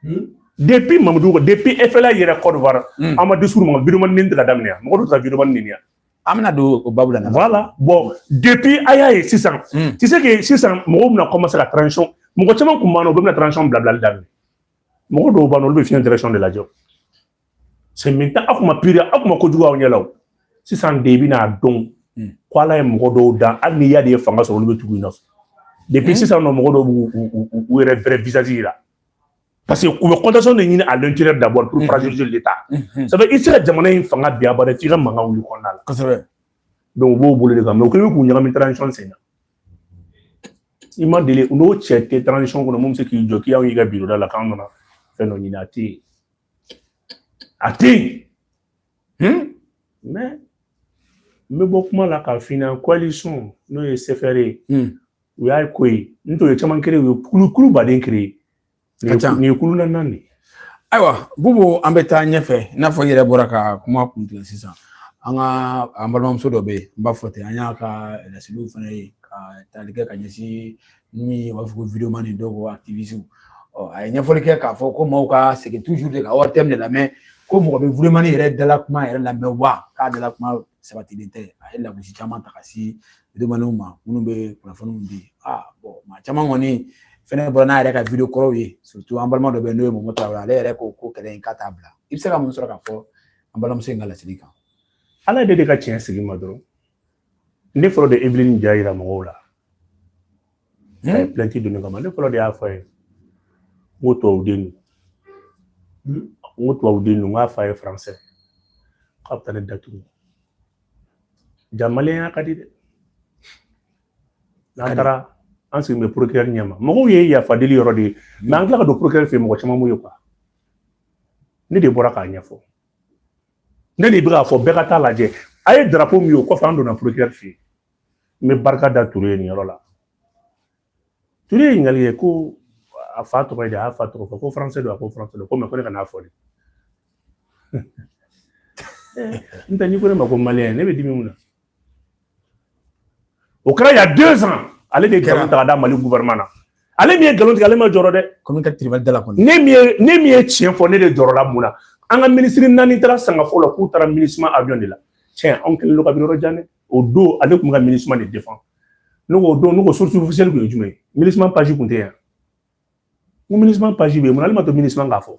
hmm? depuis mamudu diko depuis FLA yɛrɛ Côte d'Ivoire hmm. an ma discours ma vidéo ni tɛ ka daminɛ yan mɔgɔ dɔ ta vidéo ni yan an bɛna don o babu la voilà bon depuis a y'a ye sisan hmm. tu sais que sisan mɔgɔw bɛna commencer ka transition mɔgɔ caman kun b'an na u bɛɛ bɛna transition bilabilali daminɛ mɔgɔ dɔw b'an na olu bɛ fiɲɛ direction de lajɛ c'est maintenant a kuma pire a kuma kojugu aw ɲɛ la o sisan de i bɛna dɔn hmm. ko ala ye mɔgɔ dɔw dan hali ni y'a de ye fanga sɔrɔ olu bɛ tugu i nɔfɛ depuis hmm. sisan nɔ mɔgɔ dɔw b'u yɛrɛ vrai visage yira parce que u bɛ contestation de ɲini à l'intérieur d'abord pour hmm. fragiliser l'état ça fait i tɛ se ka jamana in fanga bin abada f'i ka mankan wuli kɔnɔna la kosɛbɛ donc u b'o bolo de kan mais u kɛlen bɛ k'u ɲagami transition sen na i ma deli n'o cɛ tɛ transition kɔnɔ min bɛ se k'i jɔ k'i y'anw y'i ka biro da la k'an nana fɛn dɔ ɲini a tɛ yen A tɛ yen mais n bɛ bɔ kuma la k'a f'i ɲɛna coalition n'o ye CFR ye u y'a ko ye n tun ye caman créer u ye kulu baden créer nin ye kulu naaninan de ye ayiwa Bubu an bɛ taa ɲɛfɛ i n'a fɔ i yɛrɛ bɔra ka kuma kuntigɛ sisan an ka an balimamuso dɔ bɛ yen n b'a fɔ ten an y'a ka laseliw fana ye ka tali kɛ ka ɲɛsin ni u b'a fɔ ko videomani dɔw ko activiste ɔ a ye ɲɛfɔli kɛ k'a fɔ ko maaw ka segin toujours de ka wari tɛmɛ de lamɛn ko mɔgɔ bɛ videomani yɛrɛ dala kuma yɛrɛ lamɛn wa k'a dala kuma sabatilen tɛ a ye lagosi caman ta ka se videomaniw ma minnu bɛ kunnafoniw di bon maa caman kɔni fɛnɛ bɔra n'a yɛrɛ ka video kɔrɔw ye surtout an balima dɔ bɛ yen n'o ye momo tarawele ale yɛrɛ ko ko kɛlɛ in k'a t'a bila i bɛ se ka mun sɔrɔ k'a fɔ an balimamuso in ka laseli kan ala de de ka tiɲɛ sigi ma dɔrɔn ne fɔlɔ de evelyne ja yira mɔgɔw la a ye plainte don ne kama ne fɔlɔ de y'a fɔ a ye n ko tubabu den don n ko tubabu den don n k'a fa ye français k'a bɛ taa ne datugu jaa maliyɛnya ka di dɛ n'an taara an sigilen bɛ procureur ɲɛ ma mɔgɔw ye yafa deli yɔrɔ de ye mais an tila ka don procureur fɛ mɔgɔ caman m'o ye quoi ne de bɔra k'a ɲɛfɔ ne de bɛ k'a fɔ bɛɛ ka taa lajɛ a ye drapeau min ye o kɔfɛ an donna procureur fɛ yen n bɛ barika da ture ye nin yɔrɔ la ture ye ɲininkali kɛ ko a fa tɔgɔ ye di a y'a fa tɔgɔ fɔ ko français don a ko français don ko mais ko ne kan'a fɔ dɛ n tɛ n'i ko ne ma ko maliyɛn ne bɛ dimi mun na o kɛra il y a deux ans ale de ye nkalon ta ka da mali gouvernement na ale min ye nkalon tigɛ ale ma jɔrɔ dɛ komi ka tribunal dala kɔni ne min ye ne min ye tiɲɛ fɔ ne de jɔrɔla mun na an ka minisiri naani taara sangafo la k'u taara minusma avion de la tiɲɛ anw kɛlen don kabi yɔrɔ jan dɛ o don ale tun bɛ ka minusma de défendre ne ko o don ne ko source officielle tun ye jumɛn ye minusma page tun tɛ yan n ko minusma page bɛ yen mun na ale ma to minusma k'a fɔ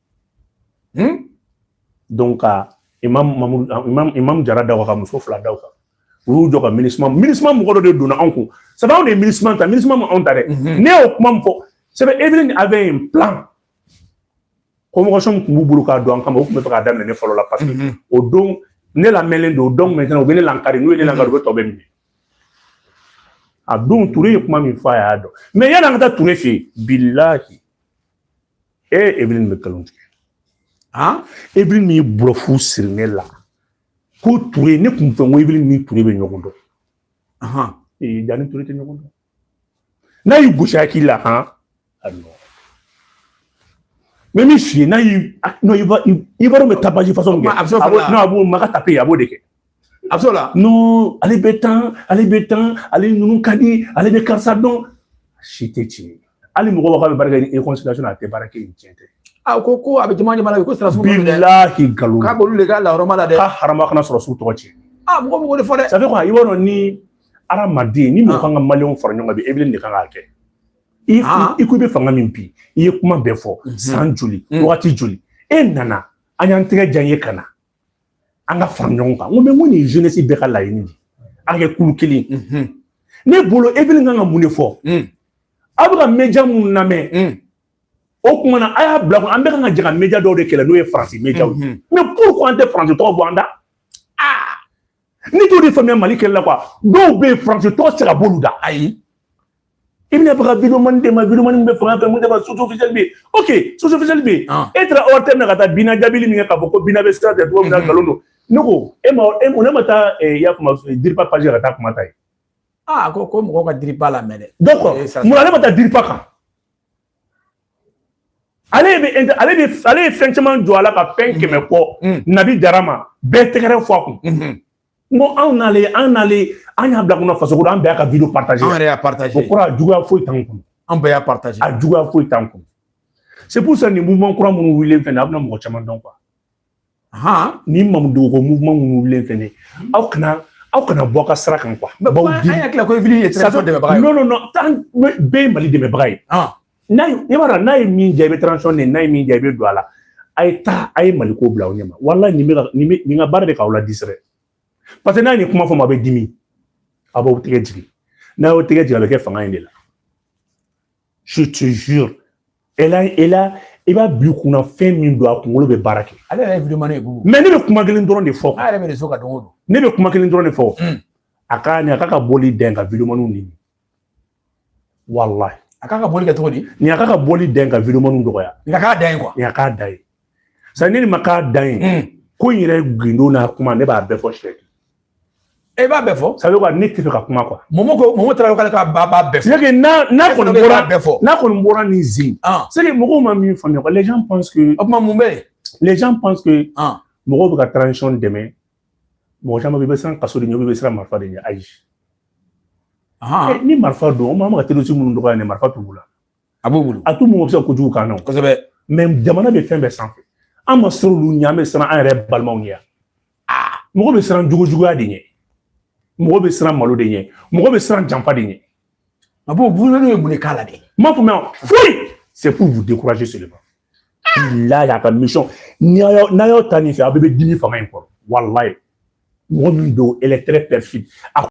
hmm? donc ka imam mamuru imam imam jara da ka muso fila da kan u y'u jɔ ka minusma minusma mɔgɔ dɔ de donna anw kun sabu anw de ye minusma ta minusma ma anw ta dɛ ne y'o kuma min fɔ c'est vrai evelyne avait un plan convocation tun b'u bolo k'a don an kama u tun b'a fɛ k'a daminɛ ne fɔlɔ la parce que mhm. o don ne lamɛnlen don donc maintenant u bɛ ne lankari n'u ye ne lankari u bɛ tɔ bɛɛ minɛ a don ture ye kuma min fɔ a y'a dɔn mais yanni an ka taa ture fɛ yen bilahi e evelyn bɛ nkalon tigɛ aa evelyn min ye bulɔfu siri ne la ko ture ne kun fɛ n ko evelyn ni ture bɛ ɲɔgɔn dɔn ahan ee dan ni ture tɛ ɲɔgɔn dɔn n'a y'i gosi a k'i la han a nɔ mɛ min f'i ye n'a y'i non il va me taper façon kɛ a b'o maka tape a b'o de kɛ absolument non ale bɛ tan ale bɛ tan ale ninnu ka di ale bɛ karisa dɔn si tɛ tiɲɛ ye hali mɔgɔ b'a fɔ a bɛ baara kɛ ni consultation a tɛ baara kɛ ni tiɲɛ tɛ a ko ko a bɛ jama jama la ko sira sugu dɛ bilahi nkalon k'a b'olu de ka lahɔrɔma la dɛ ka harama kana sɔrɔ su tɔgɔ tiɲɛ a mɔgɔ mɔgɔ de fɔ dɛ ça fait kɔni i b'a dɔn ni hadamaden ni mɔgɔ kan ka maliyɛnw fara ɲɔgɔn kan bi evelyn de kan k'a kɛ i i ko i bɛ fanga min bi i ye kuma bɛɛ fɔ san joli wagati joli e nana an y'an tɛgɛ jan ye ka na an ka fara ɲɔgɔn kan n ko mɛ n ko nin jeunesse bɛɛ ka laɲini ye an ka kɛ kulu kelen ne bolo evelyn kan ka mun de fɔ aw bɛ ka media minnu lamɛn o kuma na a y'a bila ko an bɛɛ kan ka jɛ ka media dɔw de kɛlɛ n'o ye faransi mediaw ye mais pourquoi an tɛ faransi tɔgɔ bɔ an da ni t'o de faamuya mali kɛlɛ la quoi dɔw bɛ yen faransi tɔgɔ sera b'olu da ayi i bɛna baga videomani de ma videomani bɛ fanga fɛ mun de ma source officielle bɛ yen ok source officielle bɛ yen e taara ortm na ka taa bina jaabili min kɛ k'a fɔ ko bina bɛ sira tɛ cogo min na nkalon don ne ko e ma e ne ma taa i y'a kuma diripa page ka taa kuma ta yen aa ko ko mɔgɔw ka diripa lamɛn dɛ donc mun na ne ma taa diripa kan ale bɛ ale bɛ ale ye fɛn caman jɔ a la ka fɛn kɛmɛ kɔ nabi jara ma bɛɛ tɛgɛrɛ fɔ a kun n ko anw n'ale an n'ale an y'a bila kunna faso kɔnɔ an bɛɛ y'a ka video partage an yɛrɛ y'a partage o kɔrɔ a juguya foyi t'an kun an bɛɛ y'a partage a juguya foyi t'an kun c'est pour ça nin mouvement kura minnu wulilen fɛnɛ a bɛna mɔgɔ caman dɔn han ni mamadu ko mouvement minnu wulilen fɛnɛ aw kana aw kana bɔ o ka sira kan quoi baw di an y'a ko evelyn ye transition dɛmɛbaga ye non non nɔnt'an bɛɛ ye mali dɛmɛbaga ye n'a ye i b'a dɔn n'a ye min diya i bɛ transition de n'a ye min diya i bɛ don a la a ye taa a ye mali ko bila aw ɲɛ ma walayi nin bɛ ka nin bɛ nin ka baara de k'aw la distraire parce que n'a ye nin kuma fɔ ma a bɛ dimi a b'aw tɛgɛ jigin n'a y'aw tɛgɛ jigin a bɛ kɛ fanga in de la je te jure elle a elle a i b'a bila kunna fɛn min don a kunkolo bɛ baara kɛ ale yɛrɛ ye vidéo mani ye bubu mais ne bɛ kuma kelen dɔrɔn de fɔ a yɛrɛ bɛ réseau kan don o don ne bɛ kuma kelen dɔrɔn de fɔ hmm. a ka nin a k'a ka bɔli dɛn ka vidéo maniw ɲini walahi a k'a ka bɔli kɛ cogo di nin a k'a ka bɔli dɛn ka vidéo maniw dɔgɔya nin a k'a da ye quoi nin a k'a da ye sa ne ni ma k'a dan ye hmm. ko in yɛrɛ gindo n'a kuma ne b'a bɛɛ fɔ sɛ e eh, b'a bɛɛ fɔ sabu ka ne tɛ fɛ ka kuma quoi mɔmɔ ko mɔmɔ taara k'ale ka ba b'a bɛɛ fɔ c'est que n'a n'a kɔni bɔra bɛɛ fɔ n'a kɔni bɔra ni zen ah. c'est que mɔgɔw ma min faamuya quoi les gens pensent que o tuma mun bɛ yen les gens pensent que ah. mɔgɔw bɛ ka transition dɛmɛ mɔgɔ caman bɛ i bɛ siran kaso de ɲɛ i bɛ siran marifa de ɲɛ ayi ah. eh, ni marifa don o maa ma ka terisi minnu dɔgɔya ni marifa t'u la a b'o bolo a t'u mɔgɔ bɛ se kojugu kan na kosɛbɛ mais jamana bɛ fɛn bɛɛ sanfɛ an ma siran olu ɲɛ an bɛ siran an yɛrɛ balimaw ɲɛ aa mɔgɔ bɛ siran jogojuguya de ɲɛ mɔgɔ bɛ siran malo de ɲɛ mɔgɔ bɛ siran janfa de ɲɛ a b'o bunadu ye mun de k'a la de n b'a fɔ mɛ foyi c'est pour vous décourager seulement bilahi a ka mission n'a y'aw ta nin fɛ aw bɛɛ bɛ dimi fanga in kɔrɔ walayi mɔgɔ min don elle est très perfide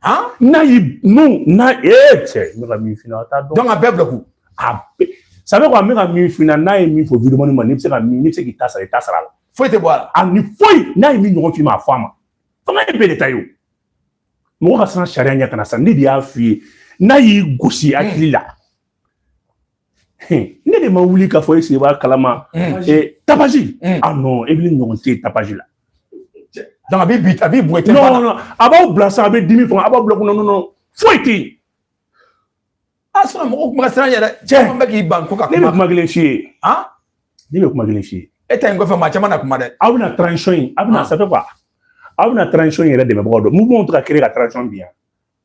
Han? N'a y'i n'u n'a ee cɛ n bɛ ka min f'i ɲɛna a t'a dɔn. Donc a bɛɛ bila kun. A bɛɛ ça veut dire quoi n bɛ ka min f'i ɲɛna n'a ye min fɔ vidéoman ma n'i bɛ se ka min n'i bɛ se k'i ta sara i ta sara a la. Foyi tɛ bɔ a la. A ni foyi n'a ye min ɲɔgɔn f'i ma a fɔ a ma. Fanga ye bɛɛ de ta ye o. Mɔgɔ ka siran sariya ɲɛ kana sa ne de y'a f'i ye n'a y'i gosi hakili la. ne de ma wuli k'a fɔ e sigi b'a kalama tapage ah non Eveline ɲɔgɔn tɛ tapage la donc a bɛ bi a bɛ bɔ tɛ non non a b'aw bila sa a bɛ dimi fanga a b'aw bila kunna non non foyi tɛ yen sinon mɔgɔw kuma siran yɛrɛ caman bɛ k'i ban ko ka kuma ne bɛ kuma kelen f'i ye ne bɛ kuma kelen f'i ye e ta in kɔfɛ maa caman na kuma dɛ aw bɛna transition in aw bɛna ça fait quoi aw bɛna transition in yɛrɛ dɛmɛbagaw dɔn mouvement tɛ ka créer ka transition bin yan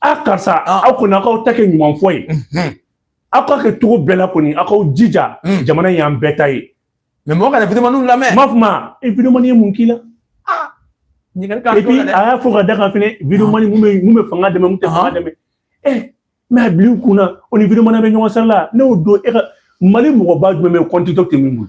a karisa aw kɔni aw k'aw ta kɛ ɲuman fɔ ye aw ka kɛ cogo bɛɛ la kɔni aw k'aw jija jamana in y'an bɛɛ ta ye mais mɔgɔ kana vidéomaninw lamɛn m'a fɔ ma e vidéomanin ye mun k'i la ɲininkali k'a to la dɛ a y'a fɔ ka da kan fɛnɛ vidéomanin mun bɛ mun bɛ fanga dɛmɛ mun tɛ fanga dɛmɛ ɛ mais a bil'i kun na o ni vidéomanin bɛ ɲɔgɔn sara la ne y'o dɔn e ka mali mɔgɔba jumɛn bɛ kɔntitɔ tɛ min bolo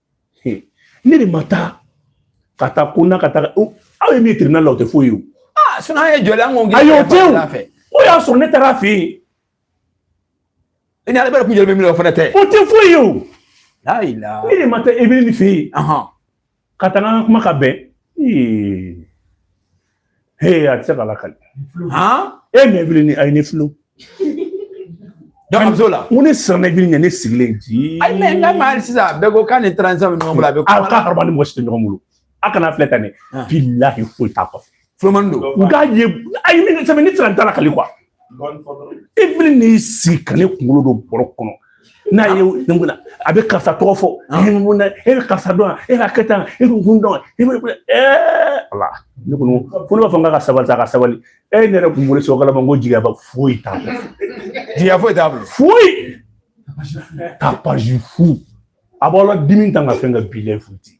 he ne de ma taa ka taa ko na ka taa aw ye min tribunal la o tɛ foyi ye o ah sinon an ye jɔli an ko ayi o tɛ o o y'a sɔrɔ ne taara a fɛ yen i ni ale bɛɛ kun jɔlen bɛ min na o fana tɛ o tɛ foyi ye o ne de ma taa Eveline fɛ yen ka taa n ka kuma ka bɛn ee Hey, a tɛ se ka lakali e mais Eveline a ye ne filo dɔgɔmuso la ko ne siranna Eveline ɲɛ ne sigilen ji ayi mais n ka maa sisan a bɛɛ ko k'a ni transition bɛ ɲɔgɔn bolo a bɛ kuma a ka haraba ni mɔgɔ si tɛ ɲɔgɔn bolo a kana filɛ tan dɛ bilahi foyi t'a kɔfɛ fulomani don u k'a ye ayi ne sɛbɛn ne siran t'a lakali quoi Eveline n'i sigi ka ne kunkolo don bɔrɔ kɔnɔ n'a ye nin kunna a bɛ karisa tɔgɔ fɔ e bɛ mun na e bɛ karisa dɔn e b'a kɛ tan e bɛ kun dɔn e bɛ ɛɛ ala ne kɔni ko ne b'a fɔ n k'a ka sabali sa a ka sabali e ne yɛrɛ kun bolo sɔgɔla ma n ko jigiyaba foyi t'a bolo jigiya foyi t'a bolo foyi tapage fu a b'aw ladimi ta ka fɛn ka bilen futi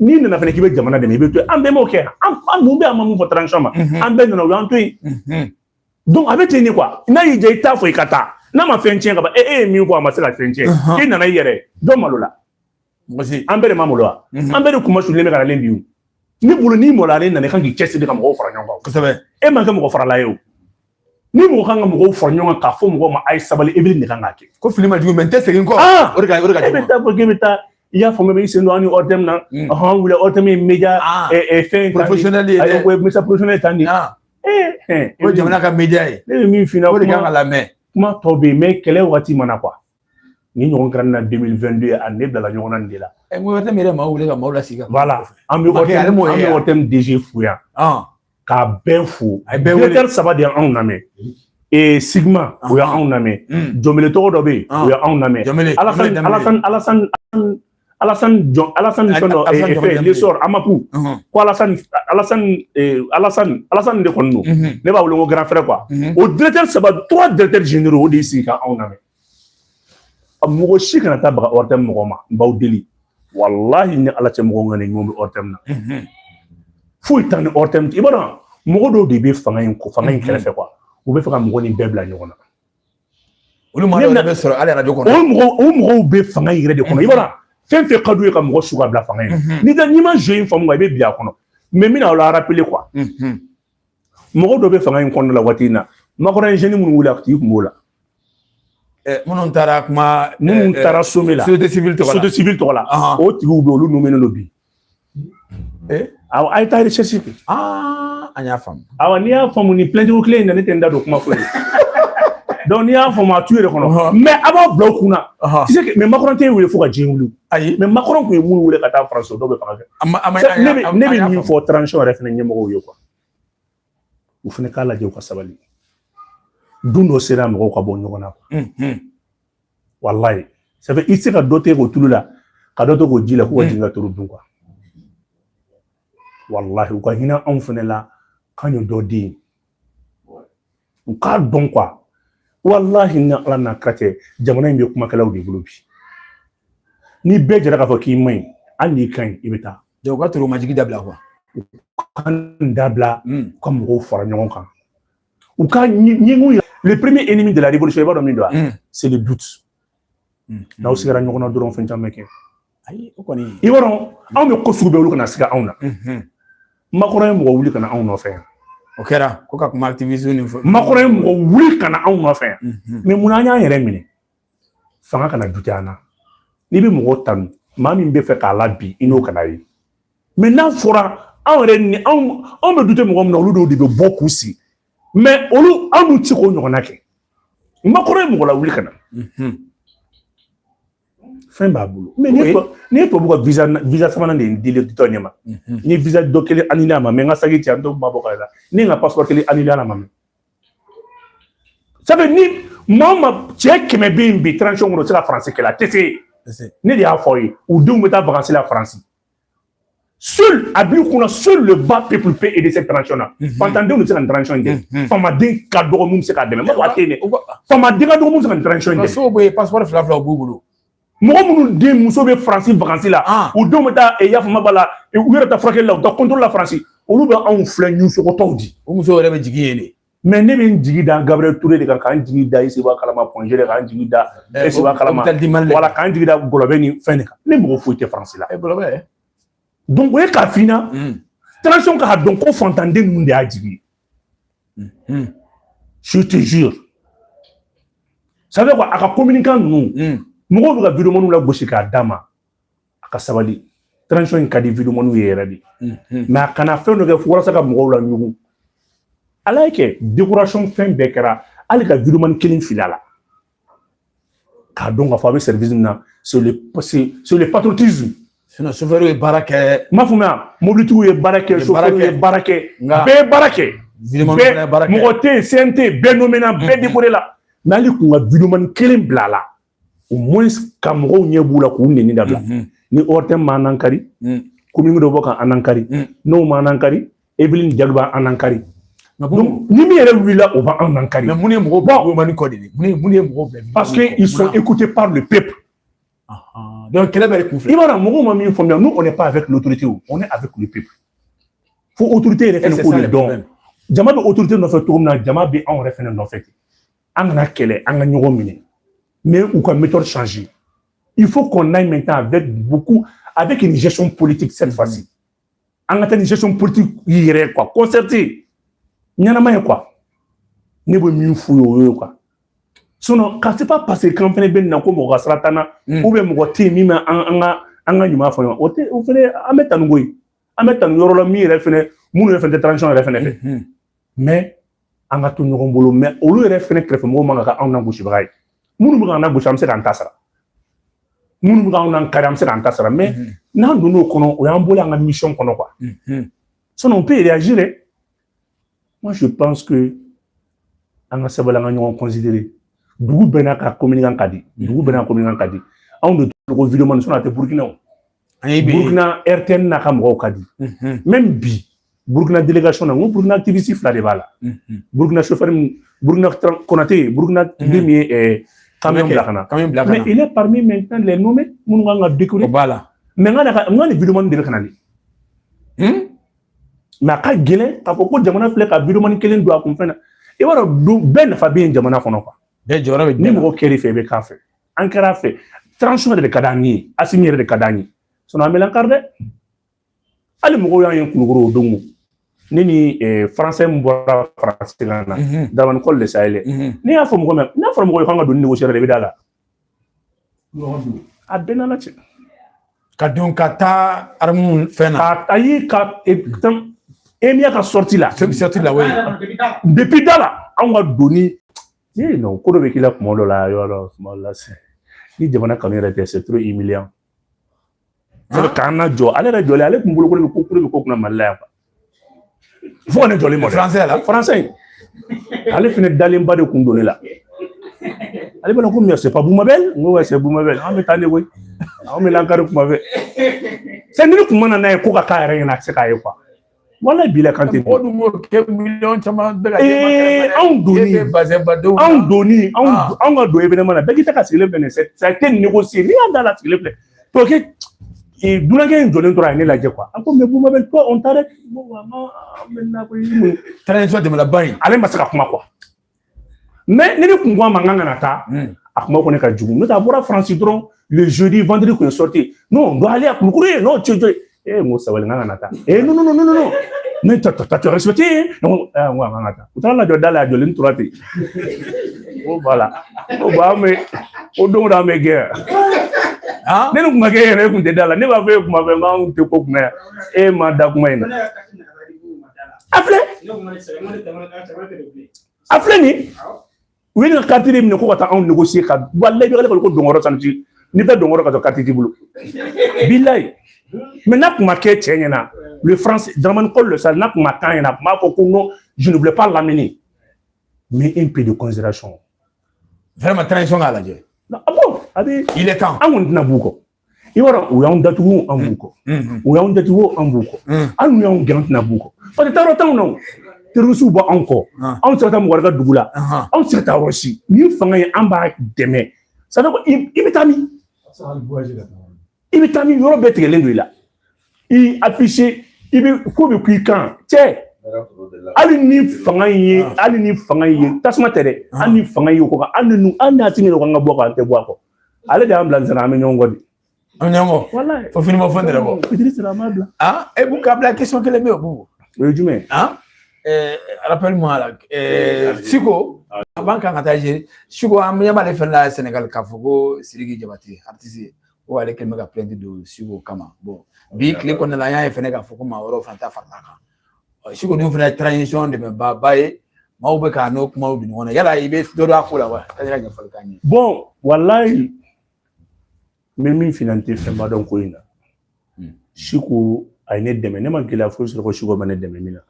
n'i nana fana k'i bɛ jamana dɛmɛ i bɛ to yen an bɛɛ m'o kɛ an mun bɛ an ma mun fɔ transition ma an bɛɛ nana o y'an to yen donc a bɛ ten de quoi n'a y'i diya i t'a fɔ i ka taa n'a ma fɛn tiɲɛ ka ban e e ye min fɔ a ma se ka fɛn tiɲɛ i nana i yɛrɛ don malo la an bɛɛ de ma malo wa an bɛɛ de kunmasulen bɛ ka nalen bi ni bolo n'i mɔla ale nana i kan k'i cɛsiri ka mɔgɔw fara ɲɔgɔn kan kosɛbɛ e man kɛ mɔgɔ farala ye o ni mɔgɔ kan ka mɔgɔw fara ɲɔgɔn kan k'a fɔ mɔgɔw ma a ye sabali Evelyne de kan k'a kɛ ko fili man jugu mais n tɛ segin kɔ o de ka o de ka jugu e bɛ taa bɔ k'e bɛ taa i y'a faamu i sen don an ni ORTM na ɔhɔn wuli ORTM ye média fɛn professionnel ye dɛ ko média professionnel tan nin o jamana ka média ye ne bɛ min f'i ɲɛna o de kan ka lamɛn kuma tɔ bɛ yen mais kɛlɛ waati mana quoi ni ɲɔgɔn kɛra na 2022 ye a ne bilala ɲɔgɔn na nin de la ɛ ŋo wɛrɛ yɛrɛ maaw wele ka maaw lasigi voilà an bɛ wari ale m'o ye an bɛ ORTM DG fo yan k'a bɛɛ fo a ye bɛɛ wele directeur saba de y'anw lamɛn ee CIGMA o y'anw lamɛn Diombélé tɔgɔ dɔ bɛ yen o y'anw lamɛn Alassane Alassane Alassane Alassane Jɔn Alassane fɛn dɔ Alassane Jɔn fɛn L'Essor AMAP ɔhɔn, ko Alassane Alassane eh, Alassane Alassane de kɔni don mhm, ne b'a wele ko grand frère quoi mhm. o directeur saba trois directeurs généraux o de y'i sigi ka anw lamɛn a mɔgɔ si kana taa baga ORTM mɔgɔ ma n b'aw deli walahi ni ala cɛ mɔgɔ ŋani ɲɔgɔn bɛ ORTM na Mhm, foyi t'an ni ORTM i b'a dɔn mɔgɔ dɔw de bɛ fanga in ko fanga in Mhm. kɛrɛfɛ quoi u bɛ fɛ ka mɔgɔ nin bɛɛ bila ɲɔgɔn na olu maa dɔw bɛ sɔrɔ hali arajo kɔnɔ o mɔgɔ o mɔgɔw bɛ fanga in yɛrɛ de kɔnɔ i b'a dɔn fɛn fɛn ka d'u ye ka mɔgɔ su ka bila fanga in na n'i ka n'i ma jeu in faamu i bɛ bin a kɔnɔ mais n bɛna aw la rappeler quoi mɔgɔ dɔw bɛ fanga in kɔnɔna la waati in na Macron jeune minnu wuli a tigi kun b'o la minnu taara kuma minnu taara sommet la société civile tɔgɔ la société civile tɔgɔ la o tigiw bɛ olu nomménen don bi Eh? A ye taa recherche kɛ. Aa an y'a faamu. Awɔ n'i y'a faamu ni plainte ko kelen in na ne tɛ n da don kuma foyi la. Donc n'i y'a faamu a t'u yɛrɛ kɔnɔ. Mais a b'aw bila aw kun na. Tu sais que mais Macron tɛ wele fo ka diɲɛ wuli. Ayi mais Macron tun ye minnu wele ka taa France dɔw bɛ fanga kɛ. Ne bɛ min fɔ transition yɛrɛ fana ɲɛmɔgɔw ye quoi. U fana k'a lajɛ u ka sabali. Don dɔ sera mɔgɔw ka bɔ ɲɔgɔn na quoi. walayi ça fait i se ka dɔ tɛgɛ ko tulu la ka dɔ ta ko ji la k'u ka jigin ka turu dun quoi walahi u ka hinɛ anw fɛnɛ la k'an ye dɔ di u k'a dɔn quoi walahi ni ala n'a kira cɛ jamana in bɛ kumakɛlaw de bolo bi ni bɛɛ jɛra k'a fɔ k'i man ɲi hali n'i ka ɲi i bɛ taa u ka toro majigi dabila quoi k'a dabila ka mɔgɔw fara ɲɔgɔn kan u ka ɲɛngu yira le premier ennemi de la révolution i b'a dɔn min don wa c'est le doute n'aw sigara ɲɔgɔn na dɔrɔn fɛn caman bɛ kɛ ayi o kɔni i b'a dɔn anw bɛ ko sugu bɛɛ olu kana siga anw na Macron ye mɔgɔ wuli ka na anw nɔfɛ yan o kɛra ko ka kuma activiste nin fɔ Macron ye mɔgɔ wuli ka na anw nɔfɛ yan mais mun na an y'an yɛrɛ minɛ fanga kana douter an na n'i bɛ mɔgɔ tanu maa min bɛ fɛ k'a la bi i n'o kana ye mais n'a fɔra anw yɛrɛ ni anw anw bɛ douter mɔgɔ min na olu dɔw de bɛ bɔ k'u sigi mais olu anw n'u ti k'o ɲɔgɔnna kɛ Macron ye mɔgɔ lawuli ka na fɛn b'a bolo mais ne ye tubabu ka visa visa sabanan de dili dɔ ɲɛ ma n ye visa dɔ kelen annuler a ma mais n ka saki cɛ an dɔw ma bɔ ka la ne ye n ka passeport kelen annuler a ma mais ça fait ni maa ma cɛ kɛmɛ bɛ yen bi transition kɔnɔ o tɛ se ka faransi kɛlɛ a tɛ se ne de y'a fɔ aw ye u denw bɛ taa vakansi la faransi seul a b'i kunna seul le bas peuple peut aider cette transition là fantandenw de bɛ se ka nin transition in kɛ famaden ka dɔgɔ min bɛ se k'a dɛmɛ mɔgɔ tɛ yen dɛ famaden ka dɔgɔ min bɛ se ka nin transition in kɛ sow bɛ yen passeport fila fila b'u bolo mɔgɔ minnu den muso bɛ faransi vakansi la ah. u denw bɛ taa eh, yafama b'a la eh, u yɛrɛ taa furakɛli la u taa contrôle la faransi olu bɛ anw filɛ ɲusogotɔw di o muso yɛrɛ bɛ jigin yen de mais ne bɛ n jigi da gabriel ture de kan k'an jigi da iseba kalama point G de k'an jigi da iseba eh, kalama wala k'an jigi da gɔlɔbɛ ni fɛn de kan ne mɔgɔ foyi tɛ faransi la donc o ye k'a f'i ɲɛna hmm. transition k'a dɔn ko fantanden ninnu de y'a jigi ye je te jure ça fait quoi a ka communicant ninnu mɔgɔw bɛ ka videomaniw lagosi k'a d'a ma a ka sabali transition in ka di videomaniw ye yɛrɛ de mais a kana fɛn dɔ kɛ walasa ka mɔgɔw laɲugu ala ye kɛ décoration fɛn bɛɛ kɛra hali ka videomani kelen fili a la k'a dɔn k'a fɔ a bɛ service min na c'est le c'est le patriotisme sinon chauffeur ye baara kɛ n m'a faamuya mobilitigiw ye baara kɛ chauffeur ye baara kɛ bɛɛ ye baara kɛ bɛɛ mɔgɔ tɛ yen CNT bɛɛ nommé na bɛɛ décoré la mais hali kun ka videomani kelen bila a la au moins ka mɔgɔw ɲɛ b'u la k'u neni dabila ni ORTM m'an nakari commune dɔ bɔ ka an nakari n'o m'an nakari Evelyne Jalo b'an nakari ni min yɛrɛ wulila o b'an nakari mais mun ye mɔgɔw bila videomani kɔ de ye mun ye mun ye mɔgɔw bila parce que ils sont écoutés par le peuple donc kɛlɛ bɛɛ kun filɛ i b'a dɔn mɔgɔw ma min faamuya nous on n'est pas avec l'autorité on est avec le peuple fo autorité yɛrɛ fɛnɛ k'o de dɔn jama bɛ autorité nɔfɛ cogo min na jama bɛ anw yɛrɛ fɛnɛ nɔfɛ ten an kana kɛlɛ an ka ɲɔgɔn minɛ mais u ka méthode changer il faut qu'on aille maintenant avec beaucoup avec une gestion politique cette fois-ci an ka taa ni gestion politique yɛrɛ ye quoi concertée ɲɛnama ye quoi ne bɛ min f'u ye o y'o ye quoi sinon ka c'est pas parce que k'an fɛnɛ bɛ nin na ko mɔgɔ ka sira t'an na ou bien mɔgɔ tɛ yen min bɛ an an ka an ka ɲuman fɔ ɲɔgɔn o tɛ o fɛnɛ an bɛ tanu koyi an bɛ tanu yɔrɔ la min yɛrɛ fɛnɛ minnu yɛrɛ fɛnɛ tɛ transition yɛrɛ fɛnɛ fɛ mais an ka to ɲɔgɔn bolo mais olu yɛrɛ fɛnɛ kɛrɛfɛ mɔgɔw man ka kɛ anw nagosibaga ye minnu bɛ k'an nagosi an bɛ se k'an ta sara minnu bɛ k'anw nakari an bɛ se k'an ta sara mais n'an donna o kɔnɔ o y'an bolo an ka misiyɔn kɔnɔ quoi sinon on peut réagir dɛ moi je pense que an ka sabali an ka ɲɔgɔn considérer dugu bɛɛ n'a ka communicant ka di dugu bɛɛ n'a communicant ka di anw de ko vidéoman sinon a tɛ burukinaw burukina rtn n'a ka mɔgɔw ka di même bi burukina délégation na ko burukina activiste fila de b'a la burukina chauffeur burukina konatɛ burukina den min ye camion bila ka na camion bila ka na il est parmi maintenant les nommés minnu kan ka décorer b'a la mais n ka n ka nin événement de bɛ kana ni mais a ka gɛlɛn k'a fɔ ko jamana fila ka événement kelen don a kun fɛn na i b'a dɔn bɛɛ nafa bɛ yen jamana kɔnɔ quoi bɛɛ jɔyɔrɔ bɛ ni mɔgɔ kɛr'i fɛ i bɛ k'a fɛ an kɛr'a fɛ transition yɛrɛ de ka d'an ye asimi yɛrɛ de ka d'an ye sinon an mɛlɛn kari dɛ hali mɔgɔw y'an ye kulukoro o don ne ni eh, faransɛ min bɔra faransi la na mhm. daramani kɔli le sahel mhm. ne y'a fɔ mɔgɔ mɛ n'a fɔra mɔgɔ ye k'an ka donni négocier de bɛ da la a bɛɛ nana cɛ ka don ka taa aramu fɛn na a ye ka e, emia ka sortie la sortie la oui depuis da la anw ka donni ee non ko dɔ bɛ k'i la kuma dɔ la yɔrɔ dɔ kuma dɔ la sisan ni jamana kanu yɛrɛ tɛ c'est trop humiliant ka na jɔ ale yɛrɛ jɔlen ale tun bolokoli bɛ ko kolo bɛ ko kunna mali la yan fo ka ne jɔlen ma français la français ale fana dalenba de kun don ne la ale bɛna ko mais c'est pas bumabɛl n ko c'est bumabɛl an bɛ taa ne koyi an bɛ lankari kuma fɛ sɛ ni ne kun ma na n'a ye ko ka k'a yɛrɛ ɲɛna a tɛ se k'a ye quoi wala bila kan tɛ mɔgɔ dun b'o kɛ miliyɔn caman bɛɛ ka ee anw doni e bazɛnbadenw anw doni anw ah. anw ka don événement na bɛɛ k'i ta ka sigilen filɛ nin ye ça a été négocié ni da la sigilen filɛ alors que dunankɛ in jɔlen tora a ye ne lajɛ quoi a ko mais bumabɛl toi on t'arrête transition tɛmɛna ba in ale ma se ka kuma quoi mais ne de kun ko a ma n kana taa a kuma ko ne ka jugu n'o tɛ a bɔra faransi dɔrɔn le jeudi vendredi kun ye sortie non on doit aller à kulukoro ye n'o cojo ye ee n ko sabali n kana taa ee non non non non non ne ta ta ta respecté ye ne ko aa n ko a ka taa u taar'a lajɔ da la a jɔlen tora ten ko voilà ko ba an bɛ ko don o don an bɛ gɛn ne ni kun ka kɛ yɛrɛ e kun tɛ da la ne b'a fɔ e kuma fɛ n k'an tɛ ko kunna yan e ma da kuma in na a filɛ a filɛ nin u ye nin kariti de minɛ ko ka taa anw négocier ka walayi bɛ ko donkɔrɔ tan ti ni bɛ donkɔrɔ ka to kariti t'i bolo bilayi mais n'a kun ma kɛ cɛ ɲɛna le français dramani kɔli le sahel n'a kun ma k'a ɲɛna a kun b'a fɔ ko non je ne voulais pas l'amener mais un peu de considération vraiment transition k'a lajɛ ah bon a bɛ il est temps an kɔni tɛna b'u kɔ i b'a dɔn u y'anw datugu an b'u kɔ u y'anw datugu an b'u kɔ hali n'u y'anw gɛn an tɛna b'u kɔ parce que taayɔrɔ t'anw na tɛrɔrisiw b'anw kɔ anw tɛ se ka taa mɔgɔ ka dugu la anw tɛ se ka taa yɔrɔ si ni fanga ye an b'a dɛmɛ sani ko i bɛ taa min i bɛ taa min yɔrɔ bɛɛ tigɛlen don i la i affiché i bɛ ko bɛ k'i kan cɛ hali ni fanga in ye hali ni fanga in ye tasuma tɛ dɛ hali ni fanga in ye o kɔ hali ni hali n'a tigi yɛrɛ ko an ka bɔ a kɔ an tɛ bɔ a kɔ ale de y'an bila nsɛnɛ an bɛ ɲɔgɔn kɔ de an ɲɔgɔn kɔ walayi fo fini ma fɛn de la bɔ fitiri sera an b'a bila ah e Bubu k'a bila question kelen bɛ yen o Bubu o ye jumɛn ah ɛɛ rappelle-moi là ɛɛ siko avant k'an ka taa ɲɛ siko an ɲɛ b'ale fɛn la Sénégal k'a fɔ ko Sidiki Jabate artiste ko ale kɛlen bɛ ka plainte don siko kama bon bi tile kɔnɔna la an y'a ye fɛnɛ k'a fɔ ko maa wɛrɛw fana ta farala kan siko ninnu fana ye transition dɛmɛbaaba ye maaw bɛ k'a n'o kumaw di ɲɔgɔn na yala i bɛ dɔ dɔn a ko la wa ka se ka ɲɛfɔli k'an ye. bɔn walayi n bɛ min f'in na n tɛ fɛnba dɔn ko in na hmm. siko a ye ne dɛmɛ ne ma gɛlɛya foyi sɔrɔ ko siko ma ne dɛmɛ min na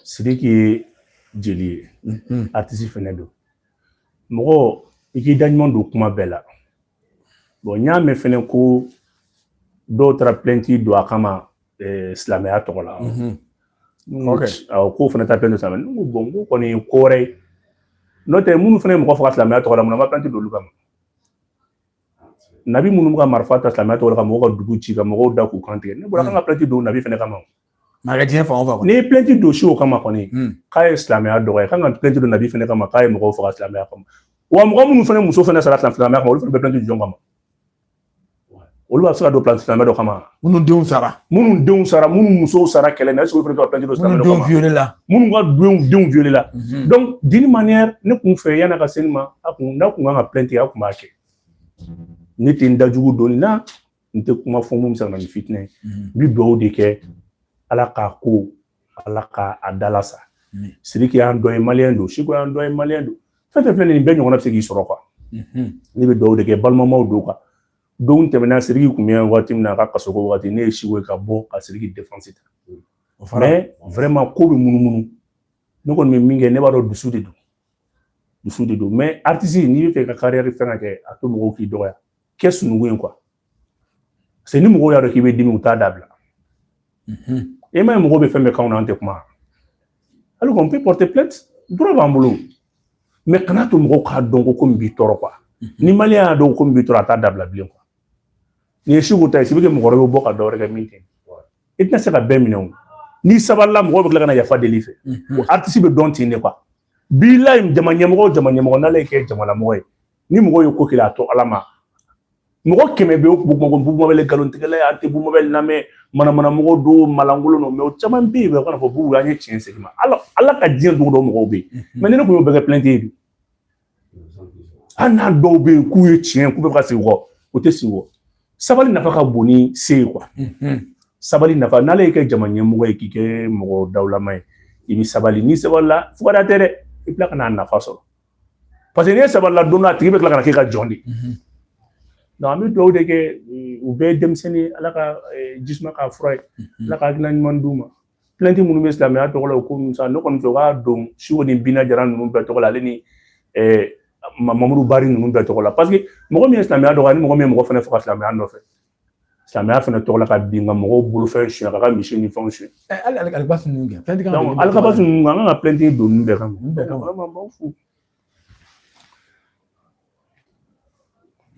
sidiki ye jeli ye hmm. aritisi fɛnɛ don mɔgɔ i k'i da ɲuman don kuma bɛɛ la bɔn n y'a mɛn fɛnɛ ko dɔw taara plɛnti don a kama eh, silamɛya tɔgɔ la mhm. k'o fana ta plɛnti silamɛ n ko bɔn ko kɔni ye ko wɛrɛ ye n'o tɛ minnu fana ye mɔgɔ faga silamɛya tɔgɔ la mun na u ma plɛnti don olu kama nabi minnu bɛ ka marifa ta silamɛya tɔgɔ la ka mɔgɔw ka dugu ci ka mɔgɔw da k'u kan tigɛ ne bolo a kan ka plɛnti don nabi fana kama Maa ka diɲɛ fan o fan kɔnɔ. N'i ye plainte don Siko kama kɔni. Un. K'a ye silamɛya dɔgɔya, i ka kan ka plainte don nabi fana kama k'a ye mɔgɔw faga silamɛya kama. Wa mɔgɔ minnu fana muso fana sara silamɛya kama, olu fana bɛ plainte don jɔn kama? olu b'a se ka don plainte silamɛ dɔ kama. Minnu denw sara. Minnu denw sara, minnu musow sara kɛlɛ na, est-ce que olu fana ka plainte don silamɛ dɔ kama? Minnu denw violer la. Minnu ka denw denw violer la. Mhm. Donc d'une manière ne tun fɛ yani a ka se nin ma, a tun n'a tun kan ka plainte kɛ, a tun b'a kɛ. Ne tɛ n da jugu don nin na. n tɛ kuma fɔ mun bɛ se ka na ni fitinɛ ye n bɛ dugawu de kɛ ala k'a ko ala k'a dalasa siriki y'an dɔ ye maliyɛn don siko y'an dɔ ye maliyɛn don fɛn fɛn filɛ nin bɛɛ ɲɔgɔnna bɛ se k'i sɔrɔ kuwa ne bɛ dugawu de kɛ balimamaw don kuwa don tɛmɛna siriki kun bɛ waati min na a ka kasoko waati ne ye siko ye ka bɔ ka siriki defansi ta mɛ vraiment ko bɛ munumunu ne kɔni bɛ min kɛ ne b'a dɔn dusu de don dusu de don mɛ aritisi n'i bɛ fɛ ka kariyɛri fɛn ka kɛ a to mɔgɔw k'i dɔgɔya kɛ sununkun ye kuwa parce ni mɔgɔw y'a dɔn k'i bɛ dimi u t'a dabila e m'a ye mɔgɔw bɛ fɛn bɛɛ k'anw na an tɛ kuma alors qu'on peut porter plainte droit b'an bolo mɛ kana to mɔgɔw k'a dɔn ko ko min b'i tɔɔrɔ kuwa ni maliyɛn y'a dɔn ko min b'i tɔɔrɔ a t'a dabila bilen kuwa Nin ye Siko ta ye sini bɛ kɛ mɔgɔ wɛrɛ bɛ bɔ ka dɔwɛrɛ kɛ min kɛ i tɛna se ka bɛɛ minɛ o n'i sabalila mɔgɔ bɛ tila ka na yafa deli i fɛ o aritisi bɛ dɔn ten de kuwa bilayi jama ɲɛmɔgɔ jama ɲɛmɔgɔ n'ala y'i kɛ jamanamɔgɔ ye ni mɔgɔ ye ko k'e la a to ala ma mɔgɔ kɛmɛ bɛ Bubu Mabɛl nkalontigɛla a tɛ Bubu Mabɛl lamɛn manamanamɔgɔ don maalankolon don mɛ o caman bɛ yen b'a fɔ Bubu an ye tiɲɛ sigi ma ala ka diɲɛ dugu dɔ mɔgɔw bɛ yen mɛ ne tun y'o bɛɛ kɛ plɛnti ye hali n'a dɔw bɛ yen k'u ye tiɲɛ k'u bɛ ka segin kɔ o tɛ segin kɔ sabali nafa ka bon ni se ye quoi sabali nafa n'ala y'i kɛ jama ɲɛmɔgɔ ye k'i kɛ mɔgɔ dawulama ye i bɛ sabali n'i sabalila fugariya tɛ dɛ i bɛ tila ka n'a nafa sɔrɔ parce que n'i ye sabalila don a tigi bɛ tila ka k'i ka jɔn de donc an bɛ dugawu de kɛ u bɛɛ ye denmisɛnnin ala ka jisuma k'a fura ye ala ka hakilina ɲuman d'u ma Plainte minnu bɛ silamɛya tɔgɔ la o ko ninnu sa ne kɔni fɛ u ka don Seku ni Bina Jara ninnu bɛɛ tɔgɔ la ale ni Mamadu Bari ninnu bɛɛ tɔgɔ la parce que mɔgɔ min ye silamɛya dɔgɔya ni mɔgɔ min ye mɔgɔ fana faga silamɛya nɔfɛ silamɛya fana tɔgɔ la ka bin ka mɔgɔw bolofɛn suɲɛ ka ka misi ni fɛnw suɲɛ hali Alikabasi ninnu kɛ plainte kan donc Alikabasi ninnu an kan ka plainte don ninnu bɛɛ kama vraiment n b'aw fo